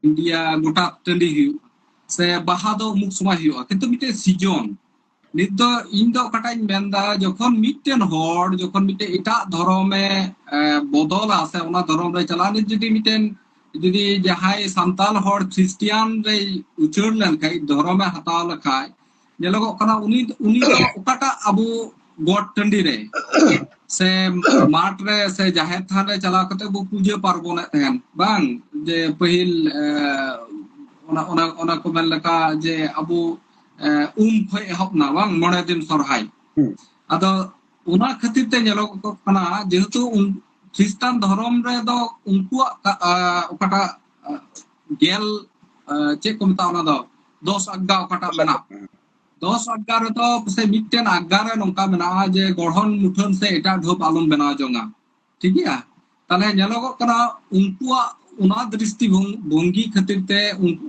ᱤᱱᱰᱤᱭᱟ ᱜᱚᱴᱟ ᱴᱟᱺᱰᱤ ᱦᱩᱭᱩᱜᱼᱟ ᱥᱮ ᱵᱟᱦᱟ ᱫᱚ ᱩᱢᱩᱠ ᱥᱚᱢᱚᱭ ᱦᱩᱭᱩᱜᱼᱟ ᱠᱤᱱᱛᱩ ᱢᱤᱫᱴᱮᱡ ᱥᱤᱡᱚᱱ ᱱᱤᱛ ᱫᱚ ᱤᱧ ᱫᱚ ᱚᱠᱟᱴᱟᱜ ᱤᱧ ᱢᱮᱱᱫᱟ ᱡᱚᱠᱷᱚᱱ ᱢᱤᱫᱴᱮᱱ ᱦᱚᱲ ᱡᱚᱠᱷᱚᱱ ᱢᱤᱫᱴᱮᱱ ᱮᱴᱟᱜ ᱫᱷᱚᱨᱚᱢᱮ ᱵᱚᱫᱚᱞᱟ ᱥᱮ ᱚᱱᱟ ᱫᱷᱚᱨᱚᱢ ᱨᱮ ᱪᱟᱞᱟᱜ ᱱᱤᱛ ᱡᱩᱫᱤ ᱢᱤᱫᱴᱮᱱ ᱡᱩᱫᱤ ᱡᱟᱦᱟᱸᱭ ᱥᱟᱱᱛᱟᱞ ᱦᱚᱲ ᱠᱷᱨᱤᱥᱴᱤᱭᱟᱱ ᱨᱮ ᱩᱪᱟᱹᱲ ᱞᱮᱱᱠᱷᱟᱡ ᱫᱷᱚᱨᱚᱢᱮ ᱦᱟᱛᱟᱣ ᱞᱮᱠᱷᱟᱡ ᱧᱮᱞᱚᱜᱚᱜ ᱠᱟᱱᱟ ᱩᱱᱤ ᱩᱱᱤ ᱫᱚ ᱚᱠᱟᱴᱟᱜ ᱟᱵᱚ ᱜᱚᱴ ᱴᱟᱺᱰᱤ ᱨᱮ ᱥᱮ ᱢᱟᱴ ᱨᱮ ᱥᱮ ᱡᱟᱦᱮᱨ ᱛᱷᱟᱱ ᱨᱮ ᱪᱟᱞᱟᱣ ᱠᱟᱛᱮ ᱵᱚ ᱯᱩᱡᱟᱹ ᱯᱟᱨᱵᱚᱱᱮᱫ ᱛᱟᱦᱮᱱ ᱵᱟᱝ ᱡᱮ ᱯᱟᱹᱦᱤᱞ ᱚᱱᱟ ᱚᱱᱟ ᱚᱱᱟ ᱠᱚ ᱢᱮᱱ ᱞᱮᱠᱟ ᱡᱮ ᱟᱵᱚ ᱩᱢ ᱠᱷᱚᱡ ᱮᱦᱚᱵ ᱱᱟ ᱵᱟᱝ ᱢᱚᱬᱮ ᱫᱤᱱ ᱥᱚᱨᱦᱟᱭ ᱟᱫᱚ ᱚᱱᱟ ᱠᱷᱟᱹᱛᱤᱨ ᱛᱮ ᱧᱮᱞᱚᱜ ᱠᱟᱱᱟ ᱡᱮᱦᱮᱛᱩ ᱠᱷᱨᱤᱥᱴᱟᱱ ᱫᱷᱚᱨᱚᱢ ᱨᱮᱫᱚ ᱩᱱᱠᱩᱣᱟᱜ ᱚᱠᱟᱴᱟᱜ ᱜᱮᱞ ᱪᱮᱫ ᱠᱚ ᱢᱮᱛᱟᱜᱼᱟ ᱚᱱᱟ ᱫᱚ ᱫᱚᱥ ᱟᱜᱜᱟ ᱚᱠᱟᱴᱟᱜ ᱢᱮᱱᱟᱜ ᱫᱚᱥ ᱟᱜᱜᱟ ᱨᱮᱫᱚ ᱯᱟᱥᱮᱡ ᱢᱤᱫᱴᱮᱱ ᱟᱜᱜᱟ ᱨᱮ ᱱᱚᱝᱠᱟ ᱢᱮᱱᱟᱜᱼᱟ ᱡᱮ ᱜᱚᱲᱦᱚᱱ ᱢᱩᱴᱷᱟᱹᱱ ᱥᱮ ᱮᱴᱟᱜ ᱰᱷᱚᱯ ᱟᱞᱚᱢ ᱵᱮᱱᱟᱣ ᱡᱚᱝᱟ ᱴᱷᱤᱠ ᱜᱮᱭᱟ ᱛᱟᱦᱞᱮ ᱧᱮᱞᱚᱜᱚᱜ ᱠᱟᱱᱟ ᱩᱱᱠᱩᱣᱟᱜ ᱚᱱᱟ ᱫᱨᱤᱥᱴᱤ ᱵᱷᱚᱝᱜᱤ ᱠᱷᱟᱹᱛᱤᱨ ᱛᱮ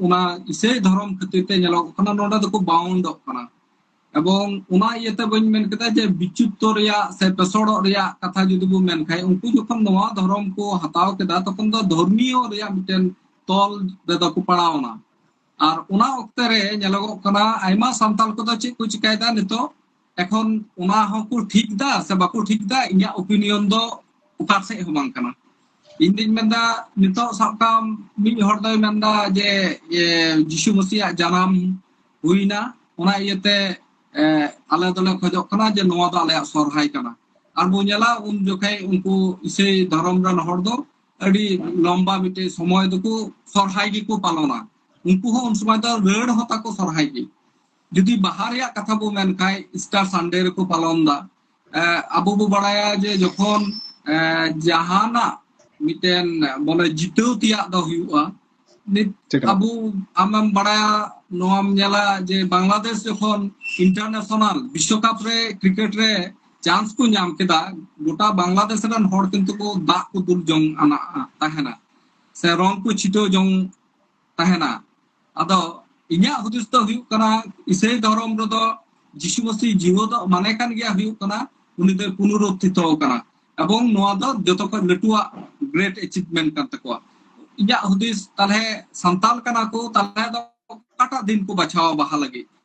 ᱚᱱᱟ ᱤᱥᱟᱹᱭ ᱫᱷᱚᱨᱚᱢ ᱠᱷᱟᱹᱛᱤᱨ ᱛᱮ ᱧᱮᱞᱚᱜᱚᱜ ᱠᱟᱱᱟ ᱱᱚᱰᱮ ᱫᱚᱠᱚ ᱵᱟᱣᱩᱱᱰᱚᱜ ᱠᱟᱱᱟ ᱮᱵᱚᱝ ᱚᱱᱟ ᱤᱭᱟᱹᱛᱮ ᱵᱟᱹᱧ ᱢᱮᱱ ᱠᱮᱫᱟ ᱡᱮ ᱵᱤᱪᱩᱯᱛᱚ ᱨᱮᱭᱟᱜ ᱥᱮ ᱯᱮᱥᱚᱲᱚᱜ ᱨᱮᱭᱟᱜ ᱠᱟᱛᱷᱟ ᱡᱩᱫᱤ ᱵᱚ ᱢᱮᱱ ᱠᱷᱟᱡ ᱩᱱᱠᱩ ᱡᱚᱠᱷᱚᱱ ᱱᱚᱣᱟ ᱫᱷᱚᱨᱚᱢ ᱠᱚ ᱦᱟᱛᱟᱣ ᱠᱮᱫᱟ ᱛᱚᱠᱷᱚᱱ ᱫᱚ ᱫᱷᱚᱨᱢᱤᱭᱚ ᱨᱮᱭᱟᱜ ᱢᱤᱫᱴᱮᱱ ᱛᱚᱞ ᱨᱮᱫᱚ ᱠᱚ ᱯᱟᱲᱟᱣᱱᱟ ᱟᱨ ᱚᱱᱟ ᱚᱠᱛᱮ ᱨᱮ ᱧᱮᱞᱚᱜᱚᱜ ᱠᱟᱱᱟ ᱟᱭᱢᱟ ᱥᱟᱱᱛᱟᱲ ᱠᱚᱫᱚ ᱪᱮᱫ ᱠᱚ ᱪᱤᱠᱟᱭᱮᱫᱟ ᱱᱤᱛᱚᱜ ᱮᱠᱷᱚᱱ ᱚᱱᱟ ᱦᱚᱸᱠᱚ ᱴᱷᱤᱠ ᱫᱟ ᱥᱮ ᱵᱟᱠᱚ ᱴᱷᱤᱠ ᱫᱟ ᱤᱧᱟᱹᱜ ᱚᱯᱤᱱᱤᱭᱚᱱ ᱫᱚ ᱚᱠᱟ ᱥᱮᱫ ᱦᱚᱸ ᱵᱟᱝ ᱠᱟᱱᱟ ᱤᱧ ᱫᱩᱧ ᱢᱮᱱᱫᱟ ᱱᱤᱛᱚᱜ ᱥᱟᱵ ᱠᱟᱜ ᱢᱤᱫ ᱦᱚᱲ ᱫᱚᱭ ᱢᱮᱱᱫᱟ ᱡᱮ ᱡᱤᱥᱩ ᱢᱟᱹᱥᱤᱭᱟᱜ ᱡᱟᱱᱟᱢ ᱦᱩᱭᱱᱟ ᱚᱱᱟ ᱤᱭᱟᱹᱛᱮ ᱟᱞᱮ ᱫᱚᱞᱮ ᱠᱷᱚᱡᱚᱜ ᱠᱟᱱᱟ ᱡᱮ ᱱᱚᱣᱟ ᱫᱚ ᱟᱞᱮᱭᱟᱜ ᱥᱚᱨᱦᱟᱭ ᱠᱟᱱᱟ ᱟᱨ ᱵᱚ ᱧᱮᱞᱟ ᱩᱱ ᱡᱚᱠᱷᱮᱡ ᱩᱱᱠᱩ ᱤᱥᱟᱹᱭ ᱫᱷᱚᱨᱚᱢ ᱨᱮᱱ ᱦᱚᱲ ᱫᱚ ᱟᱹᱰᱤ ᱞᱚᱢᱵᱟ ᱢᱤᱫᱴᱮᱡ ᱥᱚᱢᱚᱭ ᱫᱚᱠᱚ ᱥᱚᱨᱦᱟᱭ ᱜᱮᱠᱚ ᱯᱟᱞᱚᱱᱟ ᱩᱱᱠᱩ ᱦᱚᱸ ᱩᱱ ᱥᱚᱢᱚᱭ ᱫᱚ ᱨᱟᱹᱲ ᱦᱚᱸ ᱛᱟᱠᱚ ᱥᱚᱨᱦᱟᱭ ᱜᱮ ᱡᱩᱫᱤ ᱵᱟᱦᱟ ᱨᱮᱭᱟᱜ ᱠᱟᱛᱷᱟ ᱵᱚ ᱢᱮᱱ ᱠᱷᱟᱡ ᱤᱥᱴᱟᱨ ᱥᱟᱱᱰᱮ ᱨᱮᱠᱚ ᱯᱟᱞᱚᱱ ᱫᱟ ᱟᱵᱚ ᱵᱚ ᱵᱟᱲᱟᱭᱟ ᱡᱮ ᱡᱚᱠᱷᱚᱱ ᱡᱟᱦᱟᱱᱟᱜ ᱢᱤᱫᱴᱮᱱ ᱵᱚᱞᱮ ᱡᱤᱛᱟᱹᱣ ᱛᱮᱭᱟᱜ ᱫᱚ ᱦᱩᱭᱩᱜᱼᱟ ᱱᱤᱛ ᱟᱵᱚ ᱟᱢᱮᱢ ᱵᱟᱲᱟᱭᱟ ᱱᱚᱣᱟᱢ ᱧᱮᱞᱟ ᱡᱮ ᱵᱟᱝᱞᱟᱫᱮᱥ ᱡᱚᱠᱷᱚᱱ ᱤᱱᱴᱟᱨᱱᱮᱥᱚᱱᱟᱞ ᱵᱤᱥᱥᱚᱠᱟᱯ ᱨᱮ ᱠᱨᱤᱠᱮᱴ ᱨᱮ ᱪᱟᱱᱥ ᱠᱚ ᱧᱟᱢ ᱠᱮᱫᱟ ᱜᱚᱴᱟ ᱵᱟᱝᱞᱟᱫᱮᱥ ᱨᱮᱱ ᱦᱚᱲ ᱠᱤᱱᱛᱩ ᱠᱚ ᱫᱟᱜ ᱠᱚ ᱫᱩᱞ ᱡᱚᱝ ᱟᱱᱟ ᱛᱟᱦᱮᱱᱟ ᱥᱮ ᱨᱚᱝ ᱠᱚ ᱪᱷᱤᱴᱟᱹᱣ ᱡᱚᱝ ᱛᱟᱦᱮᱱᱟ ᱟᱫᱚ ᱤᱧᱟᱹᱜ ᱦᱩᱫᱤᱥ ᱫᱚ ᱦᱩᱭᱩᱜ ᱠᱟᱱᱟ ᱤᱥᱟᱹᱭ ᱫᱷᱚᱨᱚᱢ ᱨᱮᱫᱚ ᱡᱤᱥᱩ ᱢᱟᱹᱥᱤ ᱡᱤᱣᱟᱹᱫᱚᱜ ᱢᱟᱱᱮ ᱠᱟᱱ ᱜᱮᱭᱟ ᱦᱩᱭᱩᱜ ᱠᱟᱱᱟ ᱩᱱᱤ ᱫᱚᱭ ᱯᱩᱱᱩᱨᱩᱛᱛᱷᱤᱛᱚ ᱟᱠᱟᱱᱟ ᱮᱵᱚᱝ ᱱᱚᱣᱟ ᱫᱚ ᱡᱚᱛᱚ ᱠᱷᱚᱱ ᱞᱟᱹᱴᱩᱣᱟᱜ ᱜᱨᱮᱴ ᱮᱪᱤᱵᱷᱢᱮᱱᱴ ᱠᱟᱱ ᱛᱟᱠᱚᱣᱟ ᱤᱧᱟᱹᱜ ᱦᱩᱫᱤᱥ ᱛᱟᱦᱞᱮ ᱥᱟᱱᱛᱟᱞ ᱠᱟᱱᱟ ᱠᱚ ᱛᱟᱦᱞᱮ ᱫᱚ ᱚᱠᱟᱴᱟᱜ ᱫᱤᱱ ᱠᱚ ᱵᱟᱪᱷᱟᱣᱟ ᱵᱟᱦᱟ ᱞᱟᱹᱜᱤᱫ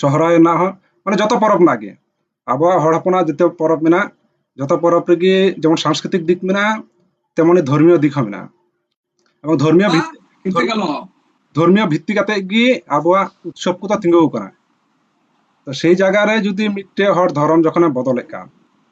ᱥᱚᱦᱨᱟᱭ ᱨᱮᱱᱟᱜ ᱦᱚᱸ ᱢᱟᱱᱮ ᱡᱚᱛᱚ ᱯᱚᱨᱚᱵᱽ ᱨᱮᱱᱟᱜ ᱜᱮ ᱟᱵᱚᱣᱟᱜ ᱦᱚᱲ ᱦᱚᱯᱚᱱᱟᱜ ᱡᱚᱛᱚ ᱯᱚᱨᱚᱵᱽ ᱢᱮᱱᱟᱜ ᱡᱚᱛᱚ ᱯᱚᱨᱚᱵᱽ ᱨᱮᱜᱮ ᱡᱮᱢᱚᱱ ᱥᱟᱝᱥᱠᱨᱤᱛᱤᱠ ᱫᱤᱠ ᱢᱮᱱᱟᱜᱼᱟ ᱛᱮᱢᱚᱱ ᱫᱷᱚᱨᱢᱤᱭᱚ ᱫᱤᱠ ᱦᱚᱸ ᱢᱮᱱᱟᱜᱼᱟ ᱮᱵᱚᱝ ᱫᱷᱚᱨᱢᱤᱭᱚ ᱫᱷᱚᱨᱢᱤᱭᱚ ᱵᱷᱤᱛᱛᱤ ᱠᱟᱛᱮ ᱜᱮ ᱟᱵᱚᱣᱟᱜ ᱩᱛᱥᱚᱵ ᱠᱚᱫᱚ ᱛᱤᱸᱜᱩ ᱟᱠᱟᱱᱟ ᱛᱚ ᱥᱮᱭ ᱡᱟᱭᱜᱟ ᱨᱮ ᱡᱩᱫᱤ ᱢᱤᱫᱴᱮᱡ ᱦᱚᱲ ᱫᱷᱚᱨᱚᱢ ᱡᱚᱠᱷᱚᱱᱮ ᱵᱚᱫᱚᱞᱮᱫ ᱠᱟᱱ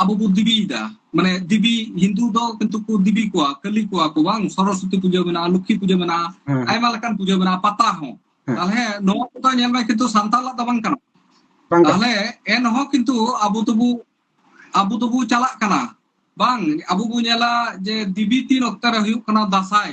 ᱟᱵᱚ ᱵᱚ ᱫᱤᱵᱤᱭᱮᱫᱟ ᱢᱟᱱᱮ ᱫᱤᱵᱤ ᱦᱤᱱᱫᱩ ᱫᱚ ᱠᱤᱱᱛᱩ ᱠᱚ ᱫᱤᱵᱤ ᱠᱚᱣᱟ ᱠᱟᱹᱞᱤ ᱠᱚᱣᱟ ᱠᱚ ᱵᱟᱝ ᱥᱚᱨᱚᱥᱚᱛᱤ ᱯᱩᱡᱟᱹ ᱢᱮᱱᱟᱜᱼᱟ ᱞᱚᱠᱠᱷᱤ ᱯᱩᱡᱟᱹ ᱢᱮᱱᱟᱜᱼᱟ ᱦᱮᱸ ᱟᱭᱢᱟ ᱞᱮᱠᱟᱱ ᱯᱩᱡᱟᱹ ᱢᱮᱱᱟᱜᱼᱟ ᱯᱟᱛᱟ ᱦᱚᱸ ᱦᱮᱸ᱾ ᱛᱟᱦᱞᱮ ᱱᱚᱣᱟ ᱠᱚᱫᱚ ᱧᱮᱞ ᱢᱮ ᱠᱤᱱᱛᱩ ᱥᱟᱱᱛᱟᱞᱟᱜ ᱫᱚ ᱵᱟᱝ ᱠᱟᱱᱟ ᱵᱟᱝ ᱠᱟᱱᱟ ᱛᱟᱦᱞᱮ ᱮᱱᱦᱚᱸ ᱠᱤᱱᱛᱩ ᱟᱵᱚ ᱫᱚᱵᱚ ᱟᱵᱚ ᱫᱚᱵᱚ ᱪᱟᱞᱟᱜ ᱠᱟᱱᱟ ᱵᱟᱝ ᱟᱵᱚ ᱵᱚ ᱧᱮᱞᱟ ᱡᱮ ᱫᱤᱵᱤ ᱛᱤᱱ ᱚᱠᱛᱚ ᱨᱮ ᱦᱩᱭᱩᱜ ᱠᱟᱱᱟ ᱫᱟᱸᱥᱟᱭ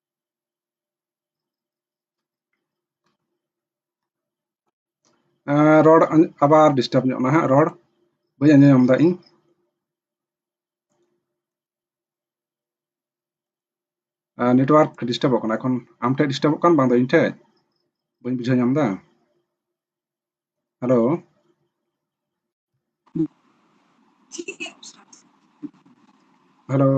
ᱨᱚᱲ ᱟᱵᱟᱨ ᱰᱤᱥᱴᱟᱵᱽ ᱧᱚᱜ ᱱᱟ ᱦᱟᱸᱜ ᱨᱚᱲ ᱵᱟᱹᱧ ᱟᱸᱡᱚᱢ ᱧᱟᱢ ᱫᱟ ᱤᱧ ᱱᱮᱴᱣᱟᱨᱠ ᱰᱤᱥᱴᱟᱵᱚᱜ ᱠᱟᱱᱟ ᱮᱠᱷᱚᱱ ᱟᱢ ᱴᱷᱮᱡ ᱰᱤᱥᱴᱟᱵᱚᱜ ᱠᱟᱱ ᱵᱟᱝ ᱫᱚ ᱤᱧ ᱴᱷᱮᱡ ᱵᱟᱹᱧ ᱵᱩᱡᱷᱟᱹᱣ ᱧᱟᱢ ᱫᱟ ஹலோ ᱦᱮᱞᱳ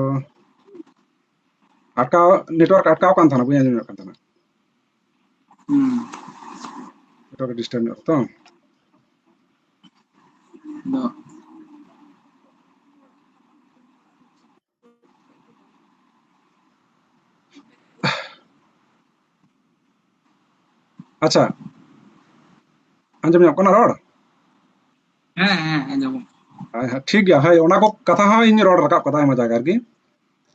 ᱟᱴᱠᱟᱣ ᱱᱮᱴᱣᱟᱨᱠ ᱟᱴᱠᱟᱣ ᱠᱟᱱ ᱛᱟᱦᱮᱱᱟ ᱵᱟᱹᱧ ᱟᱸᱡᱚᱢ ᱧᱚᱜ ᱠᱟᱱ ᱛᱟᱦᱮᱱᱟ ᱱᱮᱴᱣᱟᱨᱠ ᱰᱤᱥᱴᱟᱨᱵ ᱧᱚᱜ ᱛᱚ ᱟᱪᱪᱷᱟ ᱟᱸᱡᱚᱢ ᱧᱟᱢᱚᱜ ᱠᱟᱱᱟ ᱨᱚᱲ ᱦᱮᱸ ᱦᱮᱸ ᱟᱸᱡᱚᱢᱚᱜ ᱴᱷᱤᱠ ᱜᱮᱭᱟ ᱦᱳᱭ ᱚᱱᱟ ᱠᱚ ᱠᱟᱛᱷᱟ ᱦᱚᱸ ᱤᱧ ᱨᱚᱲ ᱨᱟᱠᱟᱵ ᱠᱟᱫᱟ ᱟᱭᱢᱟ ᱡᱟᱭᱜᱟ ᱨᱮᱜᱮ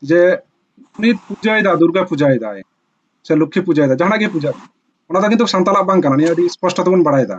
ᱡᱮ ᱩᱱᱤ ᱯᱩᱡᱟᱹᱭᱮᱫᱟ ᱫᱩᱨᱜᱟ ᱯᱩᱡᱟᱹᱭᱮᱫᱟᱭ ᱥᱮ ᱞᱚᱠᱠᱷᱤ ᱯᱩᱡᱟᱹᱭᱮᱫᱟ ᱡᱟᱦᱟᱱᱟᱜ ᱜᱮ ᱯᱩᱡᱟᱹ ᱚᱱᱟ ᱫᱚ ᱠᱤᱱᱛᱩ ᱥᱟᱱᱛᱟᱲᱟᱜ ᱵᱟᱝ ᱠᱟᱱᱟ ᱱᱤᱭᱟᱹ ᱟᱹᱰᱤ ᱥᱯᱚᱥᱴᱚ ᱛᱮᱵᱚᱱ ᱵᱟᱲᱟᱭᱮᱫᱟ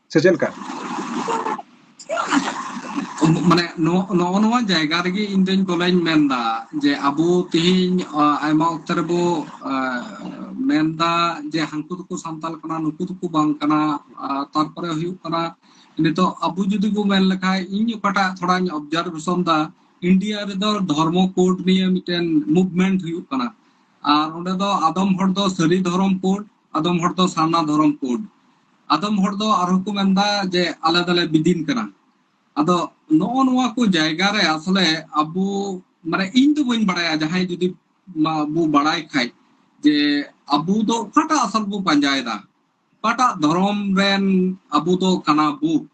ᱥᱮ ᱪᱮᱫ ᱞᱮᱠᱟ? ᱢᱟᱱᱮ ᱱᱚᱜ ᱱᱚᱜᱼᱚ ᱱᱚᱣᱟ ᱡᱟᱭᱜᱟ ᱨᱮᱜᱮ ᱤᱧ ᱫᱚᱧ ᱵᱚᱞᱮᱧ ᱢᱮᱱᱫᱟ ᱡᱮ ᱟᱵᱚ ᱛᱮᱦᱮᱧ ᱟᱭᱢᱟ ᱚᱠᱛᱮ ᱨᱮᱵᱚ ᱢᱮᱱᱫᱟ ᱡᱮ ᱦᱟᱹᱱᱠᱩ ᱫᱚᱠᱚ ᱥᱟᱱᱛᱟᱞ ᱠᱟᱱᱟ ᱱᱩᱠᱩ ᱫᱚᱠᱚ ᱵᱟᱝ ᱠᱟᱱᱟ ᱛᱟᱨᱯᱚᱨᱮ ᱦᱩᱭᱩᱜ ᱠᱟᱱᱟ ᱱᱤᱛᱚᱜ ᱟᱵᱚ ᱡᱩᱫᱤ ᱵᱚ ᱢᱮᱱ ᱞᱮᱠᱷᱟᱡ ᱤᱧ ᱚᱠᱟᱴᱟᱜ ᱛᱷᱚᱲᱟᱧ ᱚᱵᱡᱟᱨᱵᱷᱮᱥᱚᱱ ᱫᱟ ᱤᱱᱰᱤᱭᱟ ᱨᱮᱫᱚ ᱫᱷᱚᱨᱢᱚ ᱠᱳᱰ ᱱᱤᱭᱮ ᱢᱤᱫᱴᱮᱱ ᱢᱩᱵᱷᱢᱮᱱᱴ ᱦᱩᱭᱩᱜ ᱠᱟᱱᱟ ᱟᱨ ᱚᱸᱰᱮ ᱫᱚ ᱟᱫᱚᱢ ᱦᱚᱲ ᱫᱚ ᱥᱟᱹᱨᱤ ᱫᱷᱚᱨᱚᱢ ᱠᱳᱰ ᱟᱫᱚᱢ ᱦᱚᱲ ᱫᱚ ᱥᱟᱨᱱᱟ ᱫᱷᱚᱨᱚᱢ ᱠᱳᱰ ᱟᱫᱚᱢ ᱦᱚᱲ ᱫᱚ ᱟᱨᱦᱚᱸ ᱠᱚ ᱢᱮᱱᱫᱟ ᱡᱮ ᱟᱞᱮ ᱫᱚᱞᱮ ᱵᱤᱫᱤᱱ ᱠᱟᱱᱟ ᱟᱫᱚ ᱱᱚᱜᱼᱚ ᱱᱚᱣᱟ ᱠᱚ ᱡᱟᱭᱜᱟ ᱨᱮ ᱟᱥᱚᱞᱮ ᱟᱵᱚ ᱢᱟᱱᱮ ᱤᱧ ᱫᱚ ᱵᱟᱹᱧ ᱵᱟᱲᱟᱭᱟ ᱡᱟᱦᱟᱸᱭ ᱡᱩᱫᱤ ᱵᱚ ᱵᱟᱲᱟᱭ ᱠᱷᱟᱡ ᱡᱮ ᱟᱵᱚ ᱫᱚ ᱚᱠᱟᱴᱟᱜ ᱟᱥᱚᱞ ᱵᱚ ᱯᱟᱸᱡᱟᱭᱮᱫᱟ ᱚᱠᱟᱴᱟᱜ ᱫᱷᱚᱨᱚᱢ ᱨᱮᱱ ᱟᱵᱚ ᱫᱚ ᱠᱟᱱᱟ ᱵᱚ